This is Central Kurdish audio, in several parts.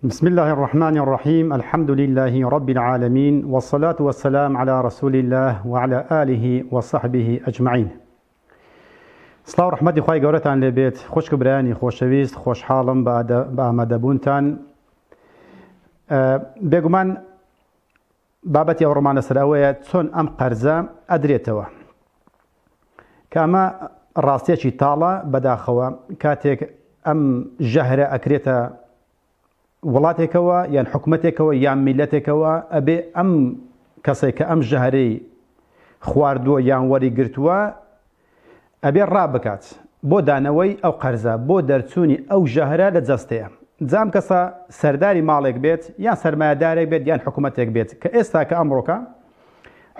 بسم اللە الرحمن الرحیم الحمد للە رب العالمین والصلاة والسلام علی رسول اللە وعلى آله وصحبه اجمعین سڵاو ڕحمەتی خی گەورەتان لێبێت خوشک و برایانی خۆشەویست خۆشحاڵم بە ئامادەبوونتان بێگومان بابەتی ئەو ڕۆمانە سەر ئەوەیە چۆن ئەم قەرزە ئەدرێتەوە کە ئەمە ڕاستیەکی تاڵە بەداخەوە کاتێک ئەم ژەهرە ئەکرێتە وڵاتێکەوە یان حکومەتێکەوە یان میلەتێکەوە ئەبێ ئەم کەسێک کە ئەم ژەهرەی خواردووە یان وەری گرتووە ئەبێ ڕابکات بۆ دانەوەی ئەو قەرزە بۆ دەرچوونی ئەو ژەهرە لە جەستەیە جام کەسە سەرداری ماڵێک بێت یان سەرمایەدارێک بێت یان حکوومەتێک بێت کە ئێستا کە ئەمڕۆکە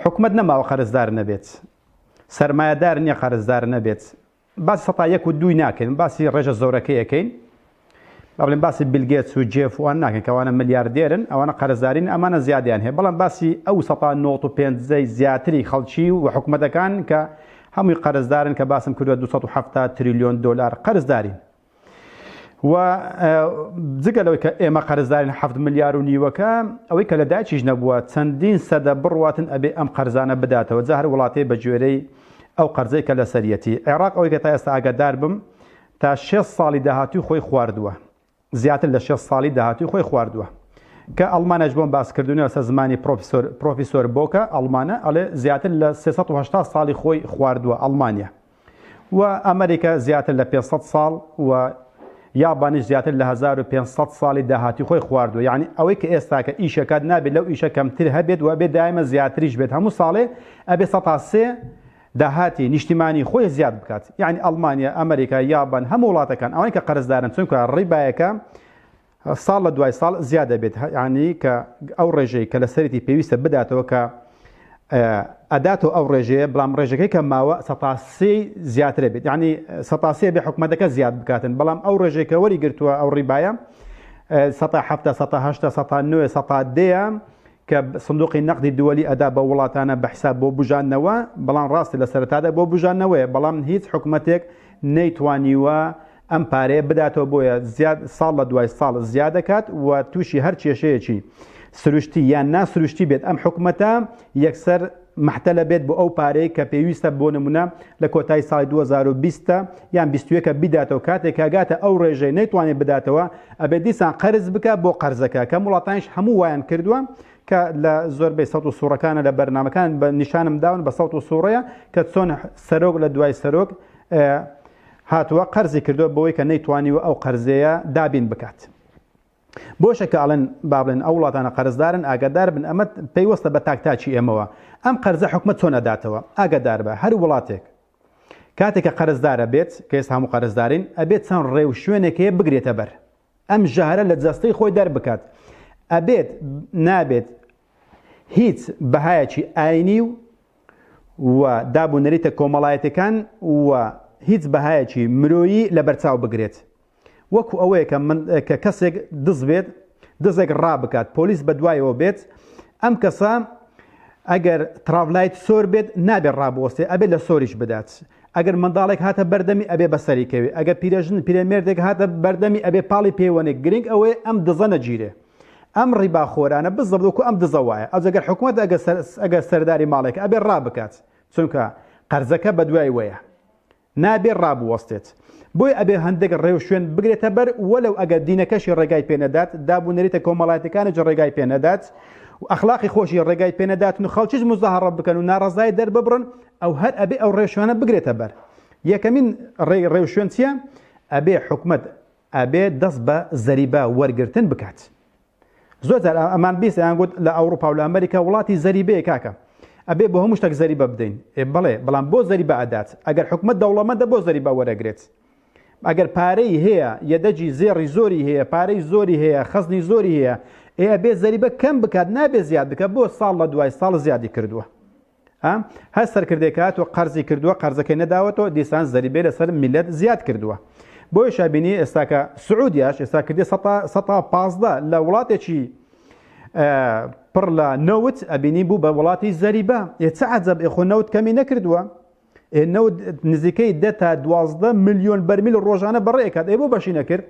حکوومەت نەماوە قەرزدار نەبێت سەرمایەدار نییە قەرزدار نەبێت باسی سەتا یەک و دووی ناکەین باسی ڕێژە زۆرەکەیەکەین بەڵێن باسی بیل گێتس و جێف وان ناکەین کە ئەوانە ملیاردێرن ئەوانە قەرزداری نین ئەمانە زیادەیان هەیە بەڵام باسی ئەو سەتا نۆت و پێنجەی زیاتری خەڵکی و حکومەتەکان کە هەمووی قەرزدارن کە باسم کردوە دوو سەد و حەفتا تریلیۆن دۆلار قەرزدارین و جگە لەوەی کە ئێمە قەرزدارین هەفت ملیار و نیوەکە ئەوەی کە لە داچیش نەبووە چەندین سەدە بڕواتن ئەبێ ئەم قەرزانە بداتەوە جا هەر وڵاتێ بە گوێرەی ئەو قەرزەی کە لەسەریەتی عێراق ئەوەی کە تا ئێستا ئاگادار بم تا شێست ساڵی داهاتووی خۆی خواردووە، زیاتر لە شێست ساڵی داهاتووی خۆی خواردووە. کە ئەڵمانەش بۆم باس کردونی لەسەر زمانی پرۆفیسۆر، پرۆفیسۆر بۆکە ئەڵمانە ئەڵێ زیاتر لە سێ سەد و هەشتا ساڵی خۆی خواردووە ئەڵمانیا و ئەمریکا زیاتر لە پێنج سەد ساڵ و یابانیش زیاتر لە هەزار و پێنج سەد ساڵی داهاتووی خۆی خواردووە یانی ئەوەی کە ئێستاکە ئیش ئەکات نابێت لەو ئیشە کەمتر هەبێت و ئەبێت دایمە زیاتریش بێت هەموو ساڵێ ئەبێ سەتا سێ داهاتی نیشتیمانی خۆی زیاد بکات یانی ئەڵمانیا ئەمریکا یابان هەموو وڵاتەکان ئەوەی کە قەرزدارن چونکە ڕی بایەکە ساڵ لە دوای ساڵ زیاد دەبێت ینی کە ئەو ڕێژەی کە لەسەرێتی پێویستە بداتەوە کە ئەداتۆ ئەو ڕێژەیە بەڵام ڕێژەکەی کە ماوە سەتاسی زیاترە بێت ینی سەتاسیە بێ حکومەتەکە زیاد بکاتن بەڵام ئەو ڕێژێکە وەری گرتووە ئەو ڕیبایە سەتا هەفتە سەتا هەشتا سەتا نوێ سەتا دەیە کە سندوقی نەقدی دووەلی ئەدا بە وڵاتانە بە حساب بۆ بوژاندنەوە بەڵام ڕاستە لە سەرەتادا بۆ بوژاندنەوەیە بەڵام هیچ حکومەتێک نەیتوانیوە ئەم پارەیە بداتەوە بۆیە زیاد ساڵ لە دوای ساڵ زیادەکات و تووشی هەر کێشەیەکی سروشتی یان ناسروشتی بێت ئەم حکومەتە یەکسەر مەحتەلە بێت بۆ ئەو پارەی کە پێویستە بۆ نمونە لە کۆتایی ساڵی دوو هەزار و بیست یان بیست و یەک بیداتەوە کاتێک کە گاتە ئەو ڕێژەی نەیتوانێت بداتەوە ئەبێت دیسان قەرز بکە بۆ قەرزەکە کەم وڵاتانیش هەموو وایان کردووە کە لە زۆربەی سەوت و سوڕەکانە لە بەرنمەکان بە نیشانم داون بە سەوت و سوڕەیە کە چۆن سەرۆک لە دوای سەرۆک هاتووە قەرزی کردووە بۆی کە نەیتوانی و ئەو قەرزەیە دابین بکات. بۆشە کە ئەڵێن بابلێن ئەو وڵاتانە قەرزدارن ئاگادار بن ئەمە پەیوەستە بە تاک تاکی ئێمەوە ئەم قەرزە حکومەت چۆن ئەداتەوە ئاگادار بە هەر وڵاتێک کاتێک کە قەرزدارە بێت کە ئێستا هەموو قەرزدارین ئەبێت چەند ڕێ و شوێنێکەیە بگرێتە بەر ئەم ژەهرە لە جەستەی خۆی دەربکات ئەبێت نابێت هیچ بەهایەکی ئاینی و و دابوونەریتە کۆمەڵایەتەکان و هیچ بەهایەکی مرۆیی لە بەرچاو بگرێت وەکو ئەوەیە کە من کە کەسێک دز بێت دزێک ڕابکات پۆلیس بە دوایەوە بێت ئەم کەسە ئەگەر تراڤلایت سۆر بێت نابێت ڕابوەستێ ئەبێت لە سۆریش بدات ئەگەر منداڵێک هاتە بەردەمی ئەبێ بەسەری کەوێ ئەگەر پیرەژن پیرەمێردێک هاتە بەردەمی ئەبێ پاڵی پێوەنێک گرنگ ئەوەیە ئەم دزە نەگیرێ ئەم ڕیبا خۆرانە بزەبدوکو ئەم دزە وایە ئەجگەر حکوومەت ئەگە سەرداری ماڵێک ئەبێ ڕابکات چونکە قەرزەکە بەدوای وەیە نابێ ڕابوەستێت بۆی ئەبێ هەندێک ڕێ و شوێن بگرێتە بەر وەلەو ئەگەر دینەکەشی ڕێگای پێ نەدات داب و نەریتە کۆمەڵایەتەکانیش ڕێگای پێ نەدات و ئەخلاقی خۆشی ڕێگای پێ نەدات و خەڵکیش مزاهەڕە بکەن و ناڕەزای دەرببڕن ئەو هەر ئەبێ ئەو ڕێشوانە بگرێتە بەر یەکەمین ڕێ ڕێ و شوێن چییە ئەبێ حکومت ئەبێ دەست بە زەریبە وەرگرتن بکات زۆر جار ئەمان بیست ئەیان گوت لە ئەوروپا و لە ئەمریکا وڵاتی زەریبەیە کاکە ئەبێ بۆ هەموو شتێک زەریبە بدەین ئێ بڵێ بەڵام بۆ زەریبە ئەدات ئەگەر حکومت دەوڵەمەندە بۆ زەریبە وەرەگرێت ئەگەر پارەی هەیە یەدەجی زێڕی زۆری هەیە پارەی زۆری هەیە خەزنی زۆری هەیە ئێ ئەبێ زەریبە کەم بکات نابێ زیاد بکە بۆ ساڵ لە دوای ساڵ زیادی کردووە هەر سەرکردێک هاتوە قەرزی کردووە قەرزەکەی نەداوەتەوە دیسان زەریبێ لەسەر میلەت زیاد کردووە بۆی شابینی ئێستاکە سعودیاش ئێستا کردی 15 لە وڵاتێکی پڕ لە نەوت ئەبینی بوو بە وڵاتی زەریبە ئێچە عجب ئێخۆ نەوت کەمی نەکردووە نەوت نزیکەی دە تا دوازدە میلیۆن بەرمیل ڕۆژانە بەڕێکات ئێ بۆ بەشی نەکرد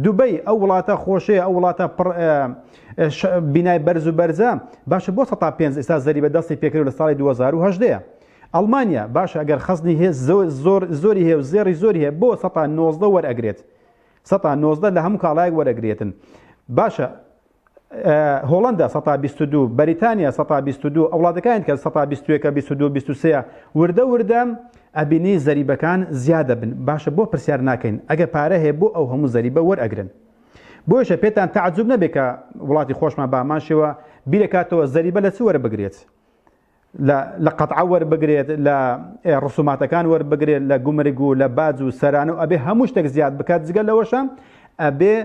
دوبەی ئەو وڵاتە خۆشەیە ئەو وڵاتە پڕ بینای بەرز و بەرزە باشە بۆ 500 ئستا زەری بە دەستی پێکرد لە ساڵی 2010 ئەڵمانیا باشە ئەگەر خەزنی هێز زۆر زۆری هەیە و زێری زۆری هەیە بۆ 1990 وەرئەگرێت 1990 لە هەموو کاڵایەک وەرەگرێتن باشە هۆڵندا سە بیست دو بەریتانیا سە بیست دو ئەوڵاتەکان کە سە بیستوەکە بیست دو بیست سەیە وردە وردە ئەبینی زەریبەکان زیادە بن باشە بۆ پرسیار ناکەین ئەگەر پارە هەیە بۆ ئەو هەموو زەریبە وەرئەگرن بۆیشە پێتان تعجب نەبێت کە وڵاتی خۆشمان باماشەوە بیرەکاتەوە زەریبە لە چ وەرە بگرێت لە قەتعە وەربگرێت لە ڕسوماتەکان وەربگرێت لە گومرگ و لە باج و سەرانە و ئەبێ هەموو شتێک زیاد بکات جگە لەوەشە ئەبێ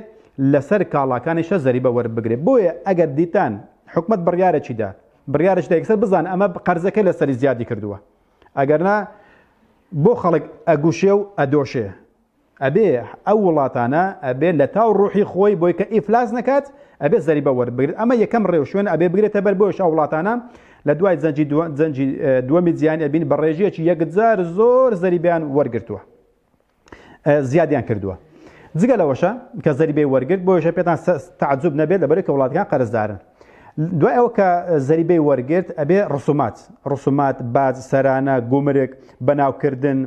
لەسەر کاڵاکانیشە زەریبە وەربگرێت بۆیە ئەگەر دیتان حکومت بڕیارێکی دا بڕیارش دەکسەر بزان ئەمە قەرزەکە لەسەری زیادی کردووە ئەگەرنا بۆ خەڵک ئەگوشێ و ئەدۆشێ ئەبێ ئەو وڵاتانە ئەبێ لە تاو ڕوحی خۆی بۆی کە ئیفلاس نەکات ئەبێ زەریبە وەربگرێت ئەمە یەکەم ڕێ و شوێن ئەبێ بگرێتە بەر بۆش ئەو وڵاتانە لە دوای زەنجی زەنجی دووەمی جیهانی ئەبین بە ڕێژەیەکی یەکجار زۆر زەریبیان وەرگرتووە زیادیان کردووە جگە لەوەشە کە زەریبەی وەرگرت بۆیشە پێتان تعجب نەبێت لەبەر کە وڵاتەکان قەرزدارن دوای ئەو کە زەریبەی وەرگرت ئەبێ ڕسومات ڕسومات باز سەرانە گومرک بەناوکردن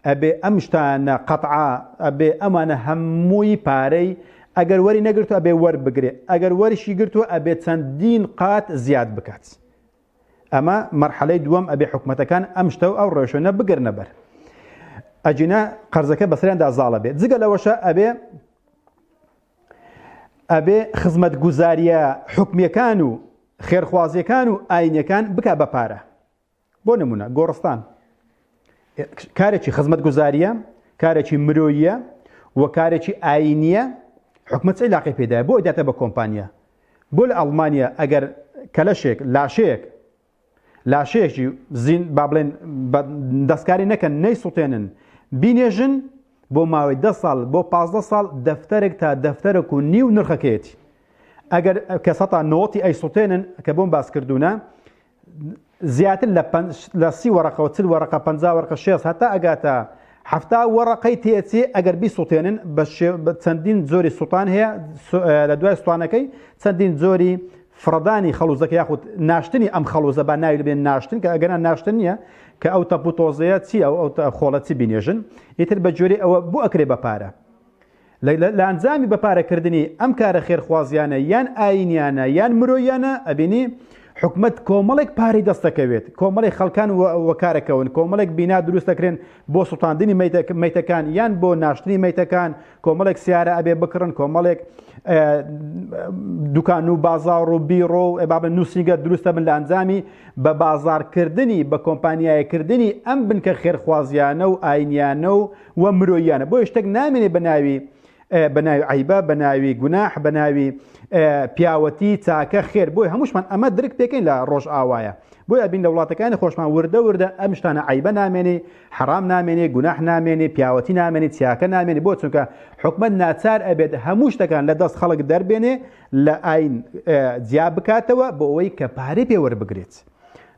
ئەبێ ئەم شتانە قەتعا ئەبێ ئەمانە هەمووی پارەی ئەگەر وەری نەگرتو ئەبێ وەربگرێ ئەگەر وەرشی گرتووە ئەبێ چەندین قات زیاد بکات ئەمە مەرحەلەی دووەم ئەبێ حکوومەتەکان ئەم شتە و ئەو ڕێشۆنە بگرنە بەر ئەجینا قەرزەکە بەسەریاندا زاڵە بێت جگە لەوەشە ئەبێ ئەبێ خزمەت گوزاریە حکومیەکان و خێرخوازیەکان و ئاینەکان بک بە پارە بۆ نمونە گۆڕستان کارێکی خزمەتگوزاریە کارێکی مرۆیە و کارێکی ئاینیە حکومت عیلاقی پێدا بۆ داتە بە کۆمپانیا بۆ لە ئەڵمانیا ئەگەر کەلەشێک لاشەیەک لاشەیەکی زین با بڵێن دەستکاری نەکەن نەی سووتێنن بینێژن بۆ ماوەی ده ساڵ بۆ پ ساڵ دەفتەرێک تا دەفتەرێک و نیو نرخەکەیەتی ئەگەر کە سەتا نۆتی ئەی سووتێنن کە بۆم باس کردوونە زیاتر لە پەنج لە سی وەڕقە و چل وەڕقە پەنجا وەڕقە شێست هەتا ئەگاتە حەفتا وەڕقەی تێچێ ئەگەر بیسووتێنن بە چەندین جۆری سووتان هەیە لە دوای سووتانەکەی چەندین جۆری فڕدانی خەڵوزەکە یاخود ناشتنی ئەم خەڵوزە بە ناوی بێن ناشتن کە ئەگەنا ناشتن نییە کە ئەو تەپوتۆزەیە چی ئەو ئەو خۆڵەتی بینێژن ئیتر بە جۆری ئەوە بۆ ئەکرێ بە پارە لە ئەنجامی بە پارە کردنی ئەم کارە خێرخوازیانە یان ئاینیانە یان مرۆیانە ئەبینی حکومت کۆمەڵێک پارەی دەستەکەوێت کۆمەڵی خەڵکان وەکارەکەون کۆمەڵێک بینا دروست دەکرێن بۆ سوڵتاندنی میتەکان یان بۆ ناشتنی میتەکان کۆمەڵێک سیارە ئەبێ بکڕن کۆمەڵێک دوکان و بازار و بیڕۆ و ئەبابە نووسنگە دروستە من لە ئەنجامی بە بازارکردنی بە کۆمپانیایەکردنی ئەم بنکە خێرخوازیانە و ئاینیانە و و مرۆییانە بۆ شتێک نامێنێ بە ناوی بە ناوی عیبە بە ناوی گوناح بە ناوی پیاوەتی چاکە خێر بۆی هەمووشمان ئەمە درک پێکەین لە ڕۆژ ئاوایە بۆی ئەبین لە وڵاتەکانی خۆشمان وردە وردە ئەم شتانە عیبە نامێنێ حرام نامێنێ گوناح نامێنێ پیاوەتی نامێنێ چاکە نامێنێ بۆ چونکە حکومت ناچار ئەبێت هەموو شتەکان لە دەست خەڵک دەربێنێ لە ئاین جیا بکاتەوە بۆ ئەوەی کە پارەی پێوەربگرێت.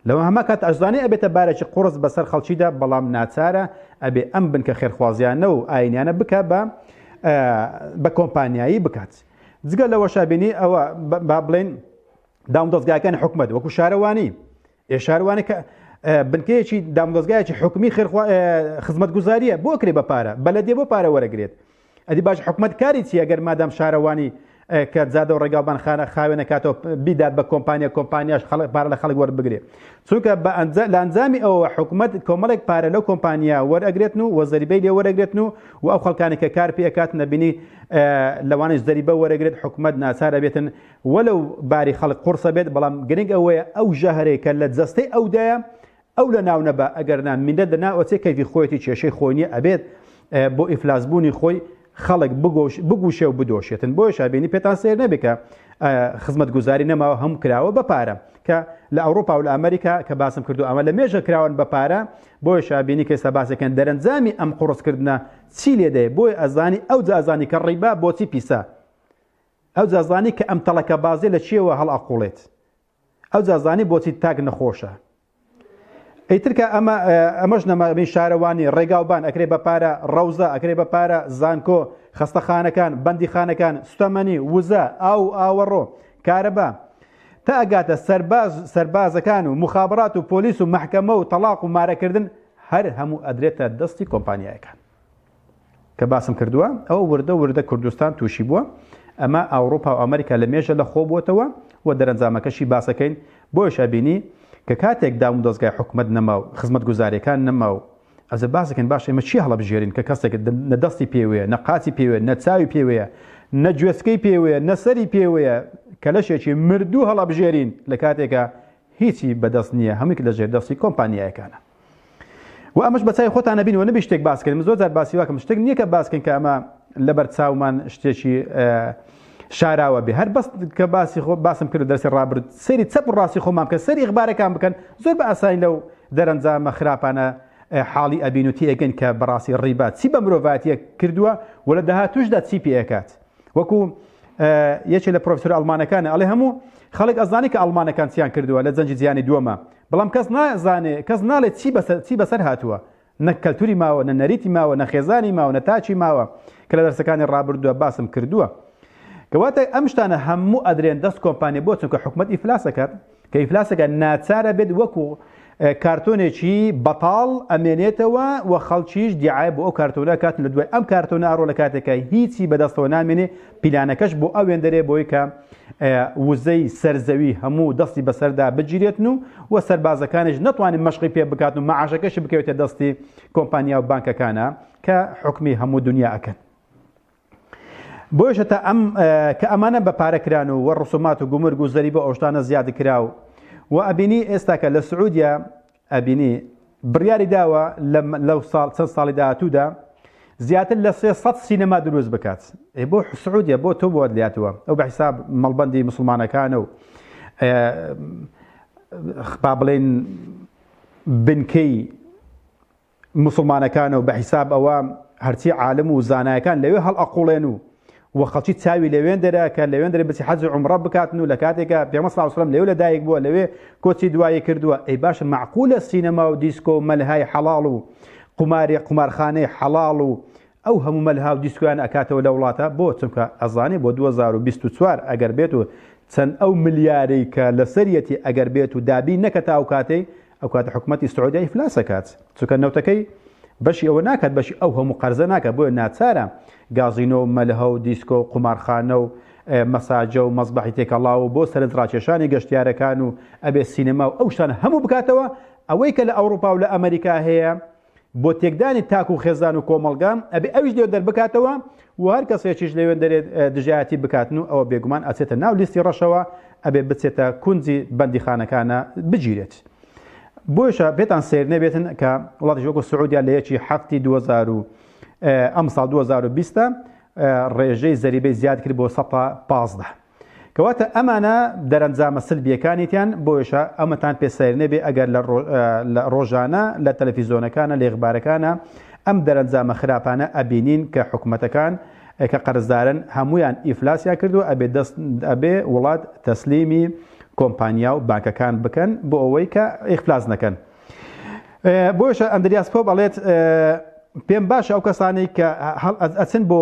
لەوە هەما کات ئەشزانێ ئەبێتە بارێکی قوڕس بەسەر خەڵکیدا بەڵام ناچارە ئەبێ ئەم بنکە خێرخوازیانە و ئاینیانە بکە بە بە کۆمپانیایی بکات جگە لەوە شابینی ئەوە با بڵێن دام دەستگاکان حکومت وەکو شارەوانی ئێ شاروانە کە بنکەیەکی دامدەستگایەکی حکومی خزمەت گوزاریە بۆ کرێ بە پارە بەلەدێ بۆ پارە وەرەگرێت ئەدی باش حکومەت کاری چیە گەر مادام شارەوانی کە جادە و ڕێگاڵبان خانە خاوێنە کاتەوە بیدات بە کۆمپانیا کۆمپانیاش خەڵک پارە لە خەڵک وەربگرێ چونکە بە ئەنجا لە ئەنجامی ئەوە حکوومەت کۆمەڵێک پارە لەو کۆمپانیا وەرەگرێتن و وەزەریبەی لێ وەرەگرێتن و و ئەو خەڵکانی کە کار پێکات نەبینی لەوانش زەریبە وەرەگرێت حکوومەت ناچارە بێتن وەلو باری خەڵک قڕسە بێت بەڵام گرنگ ئەوەیە ئەو ژەهرەیە کە لە جەستەی ئەودایە ئەو لە ناو نەبا ئەگەر نا میلەت لە ناو ئەچێ کەیفی خۆیەتی کێشەی خۆی نیە ئەبێت بۆ ئیفلاس بوونی خۆی خەڵک بگۆش بگوشێ و بدۆشێتن بۆیە شابێنی پێتان سێر نەبێ کە خزمەت گوزاری نەماوە هەم کراوە بە پارە کە لە ئەوروپا و لە ئەمریکا کە باسم کردو ئەمە لە مێژە کراون بە پارە بۆیە شابینی کە ئێستا باسەکەن دەرەنجامی ئەم قڕستکردە چی لێدێ بۆی ئەزانی ئەو جازانی کە ڕیبا بۆچی پیسە ئەو جازانی کە ئەم تەڵەکە بازێ لە چیەوە هەڵ ئەقوڵێت ئەوجا زانی بۆچی تاک نەخۆشە. ئیتر کە ئەمە ئەمەش نەماێی شارەوانی ڕێگاوبان ئەکرێ بە پارە ڕەوزە ئەکرێ بە پارە زانکۆ خەستەخانەکان بەندی خانەکان سوتەمەنی وزە ئاو ئاوەڕۆ کارەبا تا ئەگاتە سەرباز سەربازەکان و مخابرات و پۆلیس و محکەمە و تەلاق و مارەکردن هەر هەموو ئەدرێتە دەستی کۆمپانیایەکان کە باسم کردووە ئەوە وردە وردە کوردستان تووشی بووە ئەمە ئاوروپا و ئەمریکا لە مێژە لە خۆ بووتەوە و دەرەنجامەکەشی باسەکەین بۆیش ئەبینی کە کاتێک دام و دەستگای حکومت نەما و خزمەت گوزارەکان نەما و ئەزە باسەکەن باش ئێمە چی هەڵبژێرین کە کەسێک نە دەستی پێوەیە نە قاچی پێوێ نە چاوی پێوەیە نە گوێسکەی پێوەیە نە سەری پێوەیە کە لەشێکی مردوو هەڵبژێرین لە کاتێکە هیچی بەدەست نییە هەمووی لە ژێر دەستی کۆمپانیایەکانە و ئەمەش بەچای خۆتان نەبین و نەبی شتێک باسکەن زۆر جار باسی واکەم شتێک نییە کە باسکەن کە ئەمە لەبەر چاومان شتێکی شاراوە بێ هەر بەست کە باسی خۆ باسم کرد دەرسی ڕابرد سری چەپ و ڕاستی خۆمان بکە سەری ئەخبارەکان بکەن زۆر بە ئاسانی لەو دەرەنجامە خراپانە حاڵی ئەبین و تێگەن کە بەڕاستی ڕیبات چی بە مرۆڤاتیە کردووە و لە داهاتوشدا چی پێکات وەکو یەکێ لە پرۆفسۆر ئەڵمانەکانە ئەڵێ هەموو خەڵک ئەزانانی کە ئەڵمانەکان چیان کردووە لە جەنجی جیانی دووەمە بەڵام کەس نازانێ کەس ناڵێت چی بەسەر چی بەسەر هاتووە نە کەلتوری ماوە نە نەریتی ماوە نە خێزانی ماوە نە تاچی ماوە کە لە دەرسەکانی ڕابردووە باسم کردووە کەواتە ئەم شتانە هەموو ئەدرێن دەست کۆمپانیا بۆ چونکە حکوومەت ئیفلاسەکەات کە ئیفلاسەکە ناچار ئەبێت وەکو کارتۆنێکی بەتاڵ ئەمێنێتەوە و خەڵکیش دیعای بۆ ئەو کارتۆنە کات لە دوای ئەم کارتۆنە ئەڕۆ لە کاتێکە هیچی بەدەستەوە نامێنێ پیلانەکەش بۆ ئەوێن دەرێ بۆی کە وزەی سەرزەوی هەموو دەستی بەسەردا بگیرێتن و و سەربازەکانش نتوانین مەشقی پێ بکات و مەعاشەکەشی بکەوێتە دەستی کۆمپانیا و بانکەکانە کە حکمی هەموو دنیا ئەکەن. بۆیشە تا ئەم کە ئەمانە بە پارە کران و وە ڕسومات و گومرگ و زەری بۆ ئەوشتانە زیاد کراو و ئەبینی ئێستاکە لە سعودیا ئەبینی بڕیاری داوە لەو ساڵ چەند ساڵی داهاتوودا زیاتر لە 300 سینەما دروست بکات بۆ حسعودە بۆ تۆ بۆت لاتوە ئەو بە حیساب مەڵبندی مسلمانەکانە و با بڵێن بنکەی موسڵمانەکانە و بە حیساب ئەوە هەرچی عالم و زانایەکان لەوێ هەڵئەقوڵێن و و خەڵکی چاوی لەوێندەرە کە لەوێندەرە بچی حەج و عمرە بکاتن و لە کاتێکە پێمە ساوسلم لەوێ لەدایک بووە لەوێ کۆچی دوایی کردووە ئەی باشە معقولە سینەما و دیسکۆ و مەلهای حەڵاڵ و قوماری قومارخانەی حەڵاڵ و ئەو هەموو مەلها و دیسکویان ئەکاتەوە لە وڵاتە بۆ چونکە ئەزانێ بۆ 2024 ئەگەر بێت و چەند ئەو ملیارەی کە لەسەریەتی ئەگەر بێت و دابی نەکە تاو کاتەی ئەوکات حکومەتی سعودیە ئیفلاس ئەکات چونکە نەوتەکەی بەشی ئەوە ناکات بەشی ئەو هەموو قەرزە ناکات بۆیە ناچارە گازینۆ و مەلهە و دیسکۆ و قومارخانە و مەساجە و مەزبەحی تێکەڵاو و بۆ سەرنج ڕاکێشانی گەشتیارەکان و ئەبێ سینەما و ئەو شتانە هەموو بکاتەوە ئەوەی کە لە ئەوروپا و لە ئەمریکا هەیە بۆ تێکدانی تاک و خێزان و کۆمەڵگام ئەبێ ئەویش لێو دەربکاتەوە و هەر کەسێکیش لەوێن دەرێت دژایەتی بکاتن و ئەوە بێگومان ئەچێتە ناو لیستی ڕەشەوە ئەبێ بچێتە کونجی بەندیخانەکانە بگیرێت. بۆیشە بێتان سیر نەبێتن کە وڵاتی وەکو سعودیا لە یەکی هەفتی 2000 ئەم ساڵ 2020 ڕێژەی زەریبەی زیاد کرد بۆ 115. کەواتە ئەمانە دەرەنجامە سلبیەکانیتان بۆیشە ئەمەتان پێ سەیر نەبێ ئەگەر لە ڕۆژانە لە تەلەفیزۆنەکانە لێخبارەکانە ئەم دەرەنجامە خراپانە ئەبینین کە حکوومەتەکان کە قەرزدارن هەمویان ئیفلاسیا کردو ئەبێ دەست ئەبێ وڵات تەسلیمی کۆمپانیا و بانکەکان بکەن بۆ ئەوەی کە ئیفلاس نەکەن بۆشە ئەندریاس پۆ بەڵێت پێم باشە ئەو کەسانی کە ئەچن بۆ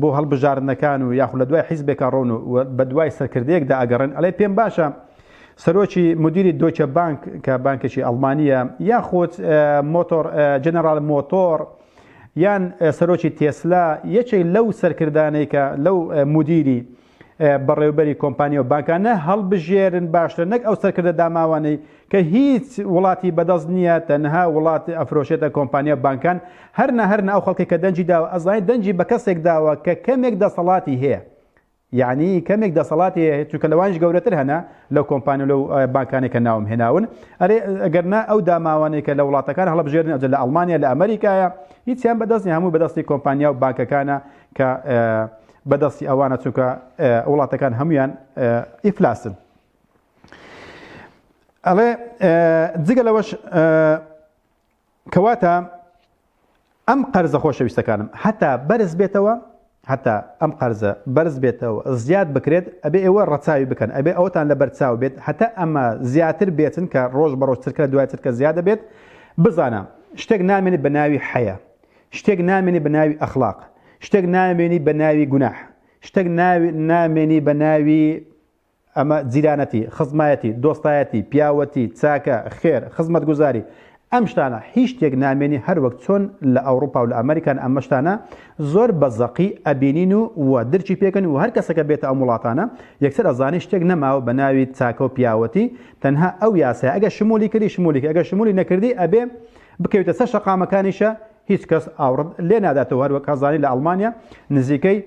بۆ هەڵبژاردنەکان و یاخود لە دوای حیزبێک ئەڕۆن و بە دوای سەرکردەیەکدا ئەگەڕێن ئەڵێ پێم باشە سەرۆکی مدیری دۆچە بانک کە بانکێکی ئەڵمانیە یاخود مۆتۆر جەنەرال مۆتۆر یان سەرۆکی تێسلا یەکێک لەو سەرکردانەی کە لەو مدیری بەڕێوبەری کۆمپانیا و بانکانە هەڵبژێرن باشتر نەک ئەو سەرکردە داماوانەی کە هیچ وڵاتی بەدەست نییە تەنها وڵات ئەفرۆشێتە کۆمپانیا بانکان هەر نەهر ناو خەڵکی کە دەنجی داوە ئەزای دەنجی بە کەسێک داوە کە کەمێک دەسەڵاتی هەیە یعنی کەمێک دەسەڵاتی هەیە چونکە لەوانش گەورەتر هەنا لەو کۆمپانیا لەو بانکانێک کە ناوم هێناون ئەرێ ئەگەرنا ئەو داماوانەیە کە لە وڵاتەکان هەڵبژێرن ئەجل لە ئەڵمانیا لە ئەمریکایە هیچیان بەدەستی هەموو بەدەستی کۆمپانیا و بانکەکانە کە بەدەستی ئەوانە چونکە وڵاتەکان هەمویان ئیفلاسن ئەڵێ جگە لەوەش کەواتە ئەم قەرزە خۆشەویستەکانم هەتا بەرز بێتەوە هەتا ئەم قەرزە بەرز بێتەوە زیاد بکرێت ئەبێ ئێوە ڕەچاوی بکەن ئەبێ ئەوتان لە بەرچاو بێت هەتا ئەمە زیاتر بێتن کە ڕۆژ بە ڕۆژترکە دوای ترکە زیادە بێت بزانە شتێک نامێنێت بە ناوی حەیە شتێک نامێنێ بە ناوی ئەخڵاق، شتێک نامێنی بە ناوی گوناح، شتێک نامێنی بە ناوی ئەمە جیرانەتی، خزمایەتی، دۆستایەتی، پیاوەتی، چاکە، خێر، خزمەتگوزاری، ئەم شتانە هیچ شتێک نامێنی هەر وەک چۆن لە ئەوڕوپا و لە ئەمەریکان ئەمە شتانە زۆر بە زەقی ئەبینین و و درکی پێکەن و هەر کەسەکە بێتە ئەم وڵاتانە یەکسەر ئەزانی شتێک نەماوە بە ناوی چاکە و پیاوەتی تەنها ئەو یاسای ئەگە شمولی کردی شمولی ئەگە شمولی نەکردی ئەبێ بکەویتە سەر شەقامەکانیشە هیچ کەس ئاوڕت لێ ناداتەوە هەروەک ئەزانی لە ئەڵمانیا نزیکەی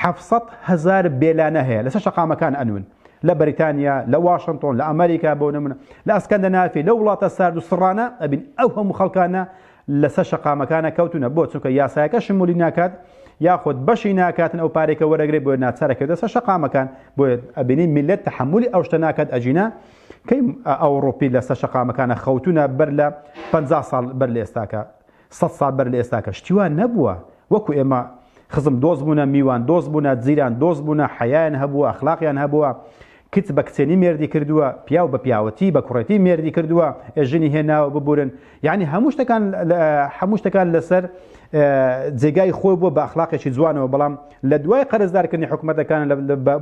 حەفت سەد هەزار بێلانە هەیە لەسەر شەقامەکان ئەنوون لە بەریتانیا لە واشنتۆن لە ئەمریکا بۆ نمونە لە ئەسکەندەنافی لە وڵاتە سارد و سڕانە ئەبین ئەو هەموو خەڵکانە لەسەر شەقامەکانە کەوتونە بۆ چونکە یاسایەکە شمولی ناکات یاخود بەشی ناکاتن ئەو پارێکە وەرەگرێ بۆ ناچارەکە دەسە شەقامەکان بۆ ئەبینی میلەت تحملی ئەو شتە ناکات ئەجینا کەی ئەوڕوپی لەسەر شەقامەکانە خەوتونە بەر لە پەنجا ساڵ بەر لە ئێستاکە سەد ساڵ بەر لە ئێستاکە شتی وا نەبووە وەکو ئێمە خزم دۆست بوونە میوان دۆست بوونە جیران دۆست بوونە حەیان هەبووە ئەخلاقیان هەبووە کچ بە کچێنی مێردی کردووە پیاو بە پیاوەتی بە کوڕێتی مێردی کردووە ژنی هێناوە ببورن یعنی هەموو شتەکان هەموو شتەکان لەسەر جێگای خۆی بووە بە اخلاقێکی جوانەوە بەڵام لە دوای قەرزدارکردنی حکوومەتەکان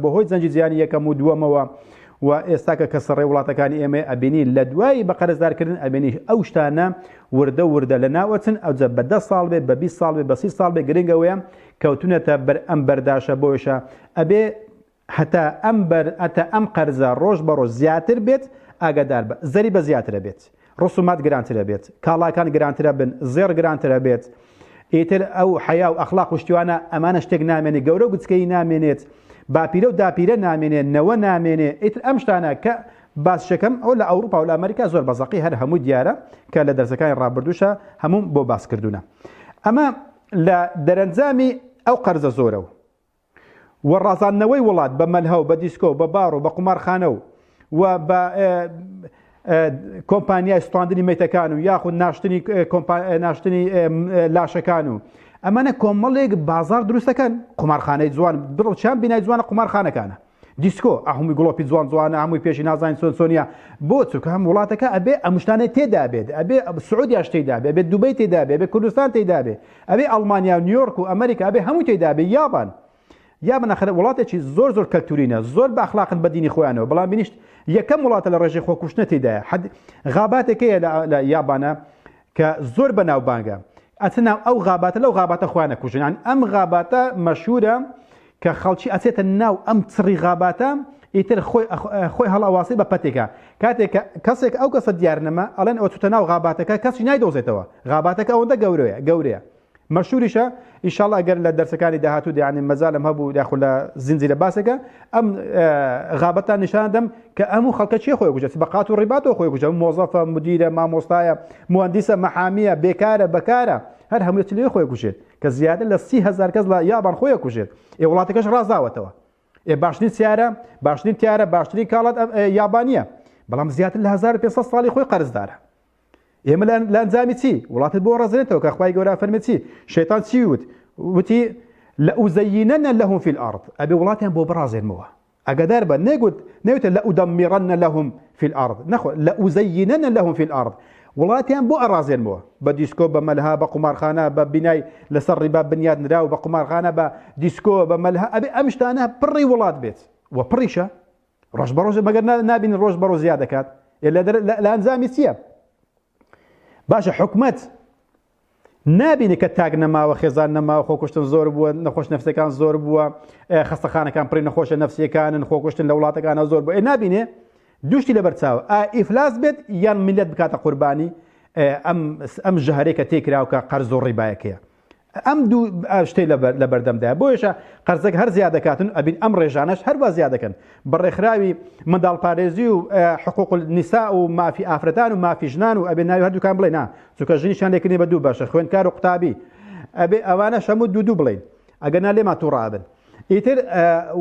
بەهۆی جەنجی جیانی یەکەم و دووەمەوە و ئێستا کە کەسە ڕێ وڵاتەکانی ئێمەی ئەبینی لە دوایی بە قەرزدار کردن ئەبینی ئەو شتانە وردە وردە لە ناوەچن ئەوجە بە دە ساڵ بێ بە بیست ساڵ بێ بە سی ساڵ بێ گرنگ ئەوەیە کەوتونەتە بەر ئەم بەرداشە بۆیشە ئەبێ هەتا ئەم بەر ئەتە ئەم قەرزە ڕۆژ بە ڕۆژ زیاتر بێت ئاگادار بە زەری بە زیاترە بێت ڕسومات گرانتر ئەبێت کاڵاکان گرانتر ئەبن زێڕ گرانتر ئەبێت ئیتر ئەو حەیا و ئەخلاق و شتیوانە ئەمانە شتێک نامێنێ گەورە و گچکەی نامێنێت باپیرە و داپیرە نامێنێ نەوە نامێنێ ئیتر ئەم شتانە کە باسشەکەم ئەو لە ئەوروپا و لە ئەمریکا زۆر بەزەقی هەر هەموو دیارە کە لە دەرزەکانی ڕابردوشە هەموم بۆ باسکردونە ئەمە لە دەرەنجامی ئەو قەرزە زۆرە و و ڕازاندنەوەی وڵات بە مەلهە و بە دیسکۆ و بە باڕ و بە قومارخانە و و بە کۆمپانیای سوتاندنی مەیتەکان و یاخود ناشتنی ناشتنی لاشەکان و ئەمانە کۆمەڵێک بازار دروستەکەن قومارخانەی جوان بڕڵ چیان بینای جوانە قومارخانەکانە دیسکۆ ئەهموی گڵۆپی جوان جوانە هەمووی پێشی نازانین چۆن چۆنیە بۆ چونکە هەم وڵاتەکە ئەبێ ئەمشتانێ تێدا بێت ئەبێ سعودیاش تێدا بێ بێت دوبەی تێدا بێ بێ کوردستان تێدا بێ ئەبێ ئەڵمانیا و نیویۆرک و ئەمریکا ئەبێ هەموو تێدا بێ یابان یا بنەخرە وڵاتێکی زۆر زۆر کەلتورینە زۆر باخلاقن بە دینی خۆیانەوە بەڵام بینیشت یەکەم وڵاتە لە ڕێژەی خۆکوشتنە تێدایە حد غاباتێکەیە لە یابانە کە زۆر بەناوبانگە ئەچن ناو ئەو غاباتە لەو غاباتە خۆیان ئەکوژن یانی ئەم غاباتە مەشهورە کە خەڵکی ئەچێتە ناو ئەم چڕی غاباتە ئیتر خۆی خۆی هەڵاواسی بە پەتێکە کاتێکە کەسێک ئەو کەسە دیار نەما ئەڵێن ئەو چوتە ناو غاباتەکە کەسی نایدۆزێتەوە غاباتەکە ئەوەندە گەورەیە گەورەیە مەشهوریشە ئیشاڵ ئەگەر لە دەرسەکانی داهاتوو دیانی مەزالم هەبوو یاخود لە زنجی لە باسەکە ئەم غابەتان نیشان دەم کە ئەم و خەڵکە چی خۆی گوجە بە قات و ڕیباتەوە خۆی گوجە مۆزەفە مدیرە مامۆستایە مهندسە مەحامیە بێکارە بەکارە هەر هەمووت لێ خۆی گوژێت کە زیاتر لە سی هزار کەس لە یابان خۆی کوژێت ئێ وڵاتەکەش ڕازاوەتەوە ئێ باشترین سیارە باشترین تیارە باشترین کاڵات یابانیە بەڵام زیاتر لە 1500 ساڵی خۆی قەرزدارە ئێمە لانجامی چی وڵاتت بۆ ڕزێنێتەوە کە خخوای گەورە فەرمێ چی شێتان چی وت وتی لە ئوزەینەنە لەهم فی الارض ئەبێ وڵاتیان بۆ بڕازێنمەوە ئەگەدار بە نەگوت نەوتە لە ئودەمیڕەنە لەهم فی الارض نەخۆ لە ئوزەینەنە لەهم فی الارض وڵاتیان بۆ ئەڕازێنمەوە بە دیسکۆ بە مەلها بە قومارخانە بە بینای لەسەر ڕیبا بنیاد نرا و بە قومارخانە بە دیسکۆ بە مەلها ئەبێ ئەم شتانە پڕی وڵات بێت و پڕیشە ڕۆژ بە ڕۆژ مەگەر نابین ڕۆژ بە ڕۆژ زیاد دەکات لە ئەنجامی چییە باشە حکومت نابینی کە تاک نەماوە خێزان نەماوە خۆکوشتن زۆر بووە نەخۆش نفسەکان زۆر بووە خستەخانەکان پڕی نەخۆشە نفسیەکانن خۆکوشتن لە وڵاتەکانە زۆر بووە نابینێ دوشتی لە بەرچاو ئیفلاس بێت یان میلەت بکاتە قوربانی ئەم ژهرێکە تێکراوکە قەرز و ڕیبایەکەیە ئەم دوو شتەی لە بەردەمدایە بۆیشە قەرزەک هەر زیادەکاتن ئەبین ئەم ڕێژانەش هەروە زیادەکەن بە ڕێکخراوی منداڵ پارێزی و حقوق نیسا و مافی ئافرەتان و مافی ژنان و ئەبێ ناوی هەردووکان بڵێ نا چونکە ژنیشان لێکردنی بە دوو باشە خوێنکار و قوتابی ئەبێ ئەوانە شەمو دوو دوو بڵین ئەگەر نا لێمان تووڕابن ئیتر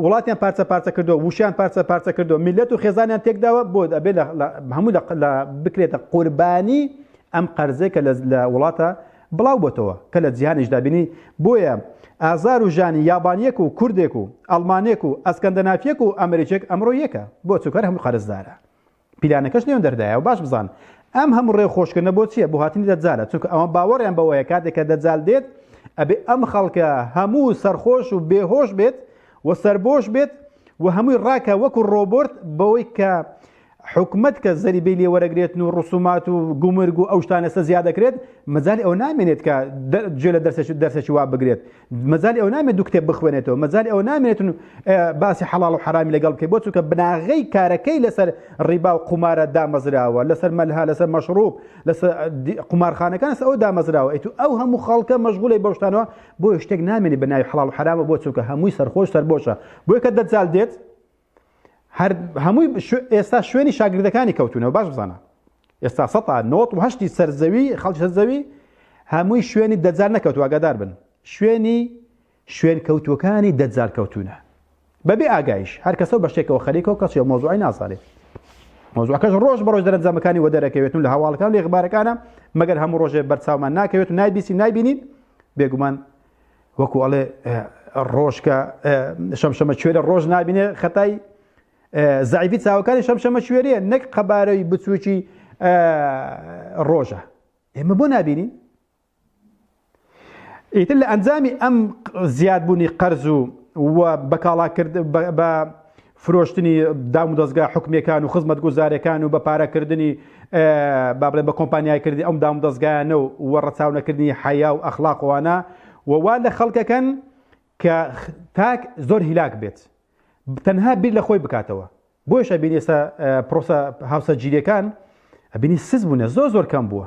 وڵاتیان پارچە پارچە کردو وشیان پارچە پارچە کردو میلەت و خێزانیان تێکداوە بۆ ئەبێ هەموو لە بکرێتە قوربانی ئەم قەرزێکە لە وڵاتە بڵاو بۆتەوە کە لە جیهانیشدا بینی بۆیە ئازار و ژانی یابانیەک و کوردێک و ئەڵمانێک و ئەسکەندەنافیەک و ئەمریکێک ئەمڕۆ یەکە بۆ چونکە هەر هەمووی قەرزدارە پیلانەکەش لێون دەردایە و باش بزان ئەم هەموو ڕێ خۆشکردنە بۆ چییە بۆ هاتنی دەجالە چونکە ئەوان باوەڕیان بەوەیە کاتێک کە دەجال دێت ئەبێ ئەم خەڵکە هەموو سەرخۆش و بێهۆش بێت و سەربۆش بێت و هەمووی ڕاکە وەکو ڕۆبۆرت بەوەی کە حکومەت کە زەریبەی لێ وەرەگرێتن و ڕسومات و گومرگ و ئەو شتانە لەسەر زیاد دەکرێت مەجالی ئەوە نامێنێت کە گوێ لە دەرسێکی دەرسێکی وا بگرێت مەجالی ئەوە نامێت دوو کتێب بخوێنێتەوە مەجالی ئەوە نامێنێتن و باسی حەڵاڵ و حەرامی لەگەڵ بکەیت بۆ چونکە بناغەی کارەکەی لەسەر ڕیبا و قومارە دامەزراوە لەسەر مەلها لەسەر مەشروب لەسەر قومارخانەکان لەسەر ئەو دامەزراوە ئەیت و ئەو هەموو خەڵکە مەشغولی بەو شتانەوە بۆ شتێک نامێنێت بە ناوی حەڵاڵ و حەرامە بۆ چونکە هەمووی سەرخۆش سەربۆشە بۆیە کە دەجال دێت هەر هەمووی ئێستا شوێنی شاگردەکانی کەوتونەوە باش بزانە ئێستا سە نۆت و هەشتی سەرزەوی خەڵکی سەرزەوی هەمووی شوێنی دەجار نەکەوت واگادار بن شوێنی شوێن کەوتوەکانی دەجار کەوتونە بەبێ ئاگایش هەر کەسەوە بە شتێکەوە خەریکەوە کەچێ مۆزوعی نازانێت مۆزوعەکەش ڕۆژ بە ڕۆژ دەرەنجامەکانی وە دەرەکەوێتون لە هەواڵەکان لێ غبارەکانە مەگەر هەموو ڕۆژێ بەرچاومان ناکەوێت و نایبیسی نایبینین بێگومان وەکو ئەڵێ ڕۆژکە شەمشەمە کوێرە ڕۆژ نابینێ خەتای زعیفی چاوەکانی شەمشەمە کوێریە نەک قەبارەی بچووکی ڕۆژە ئێمە بۆ نبینین ئیتر لە ئەنجامی ئەم زیادبوونی قەرز و بەکاڵاکرد بە فرۆشتنی دامودەزگا حکومیەکان و خزمەتگوزارەکان و بە پارەکردنی بابلێن بە کۆمپانیایکردنی ئەم دامودەزگایانە و وە ڕەچاونەکردنی حەیا و ئەخلاق وانە و وا لە خەڵکەکەن کە تاک زۆر هیلاک بێت تەنها بیر لە خۆی بکاتەوە بۆیشە بینێستا پرۆسە هاوسەرگیریەکان ئەبینی سز بوونە زۆر زۆر کەم بووە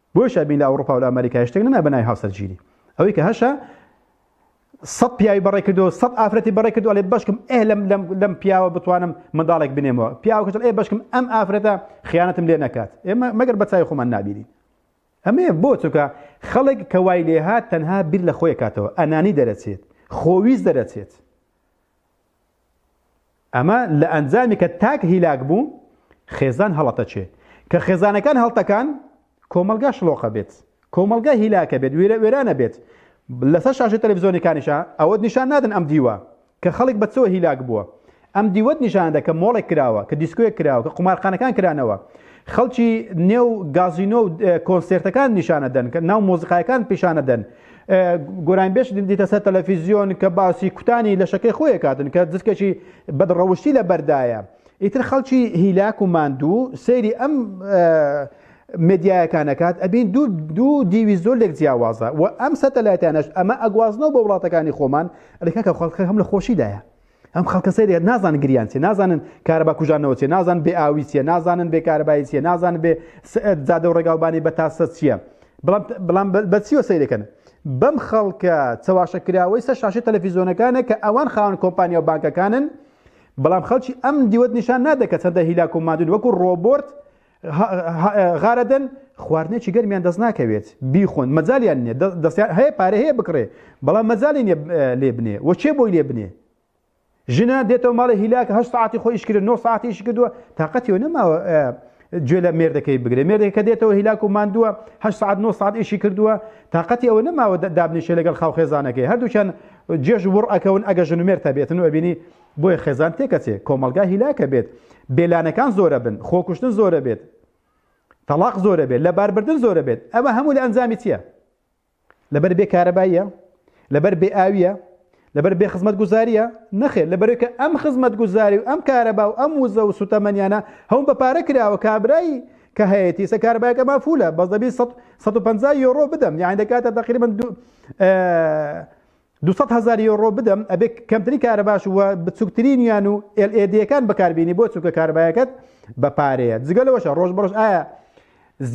بۆیە شابین لە ئەوڕوپا و لە ئەمەریکای شتێک نەنا بەناوی هاوسەرگیری ئەوەی کە هەشە سەد پیاوی بەڕێ کردو سەد ئافرەتی بەڕێ کردو لێ بەشکم ئێ لەم لەم لەم پیاوە بتوانم منداڵێک بنێمەوە پیاوکەش ئێ بەشکم ئەم ئافرەتە خیانەتم لێ نەکات ئێمە مەگەر بە چای خۆمان نابیری ئەمێ بۆ چووکە خەڵک کە وای لێهات تەنها بیر لە خۆی کاتەوە ئەنانی دەرەچێت خۆویست دەرەچێت ئەمە لە ئەنجامی کە تاک هیلاک بوو خێزان هەڵەتەچێ کە خێزانەکان هەڵتەکان کۆمەلگا شڵۆقە بێت کۆمەلگا هیلاکە بێت وێرە وێرانە بێت لەسەر شاشە تەلەڤزیۆنەکانیشە ئەوەت نیشان نادن ئەم دیوە کە خەڵک بە چۆ هیلاک بووە ئەم دیوەت نیشاندا کە مۆڵێک کراوە کە دیسکوێک کراوە کە قومارخانەکان کرانەوە خەڵکی نێو گازینۆ و کۆنسێرتەکان نیشانە دەن کە ناو مۆزیقایەکان پیشانە دەن گۆرانبێش دیتە سەر تەلەفیزیۆن کە باسی کوتانی لەشەکەی خۆی کاتن کە جسکێکی بەدڕەوشتی لە بەردایە ئیتر خەڵکی هیلاک و ماندوو سەیری ئەم مدیایەکانەکات ئەبین دوو دوو دیوی زۆر لێک جیاوازە و ئەم سەتەلایتانەش ئەمە ئەگوازنەوە بە وڵاتەکانی خۆمان لەکە کە خەڵکە هەم لە خۆشیدایە ئەم خەڵکە سەیرێت نازان گریان چێ نازانن کارەبا کوژانەوە چێ نازان بێ ئاوی چێ نازانن بێ کارەبایی چێ نازان بێ زادە و ڕێگاوبانی بە تاسە چییە بەڵام بەچیوە سەیرەکەن بەم خەڵکە چەواشە کراوەی سەر شاشی تەلەفیزیۆنەکانە کە ئەوان خاون کۆمپانیا و بانکەکانن بەڵام خەڵکی ئەم دیوەت نیشان نادەکە چەندە هیلاک و مادون وەکو ڕۆبۆرت غارەدەن خواردنێکی گەرمیان دەست ناکەوێت بیخۆن مەجاالیان نیە دەستیان هەیە پارە هەیە بکڕێ بەڵام مەجای لێ بنێ وە چێ بۆی لێ بنێ ژنە دێتەوە ماڵی هیلاک هە ساعتی خۆیش کرد نۆ ساعتیش کردووە تااقەتیەوە نەماوە گوێ لە مێردەکەی بگرێ مێردێکە دێتەوە هیلاک و ماندووە هە ساعت نۆ ساعت ئیشی کردووە تااقەتی ئەوە نەماوە دابنیشە لەگەڵ خاوخێزانەکەی هەردووچەند جێژ وڕ ئەکەون ئەگە ژنومێر تەبێتن و ئەبینی بۆیە خێزان تێکەچێ کۆمەڵگا هیلاکە بێت بێلانەکان زۆرە بن خۆکوشتن زۆرە بێت تەلاق زۆرە بێت لە باربردن زۆرە بێت ئەمە هەموو لە ئەنجامی چییە لەبەر بێ کارەباییە لەبەر بێ ئاویە لەبەر بێ خزمەت گوزاریە نەخێت لەبەرکە ئەم خزمەت گوزاری و ئەم کارەبا و ئەم وزە و سوتەمەنیانە هەم بە پارە کراوە کابرایی کە هەیەی سە کاربایەکە مافولە بەس دەبی 150 یۆرۆ بدەم یان دەکاتە تقریبن دوو سەد هەزار یۆرۆ بدەم ئەبێ کەمتری کارەباش و بچووکترینیان و LEDەکان بەکاربیێنی بۆ چووکە کاربایەکەت بە پارەیە جگە لەوەشە ڕۆژ بەڕۆژ ئایا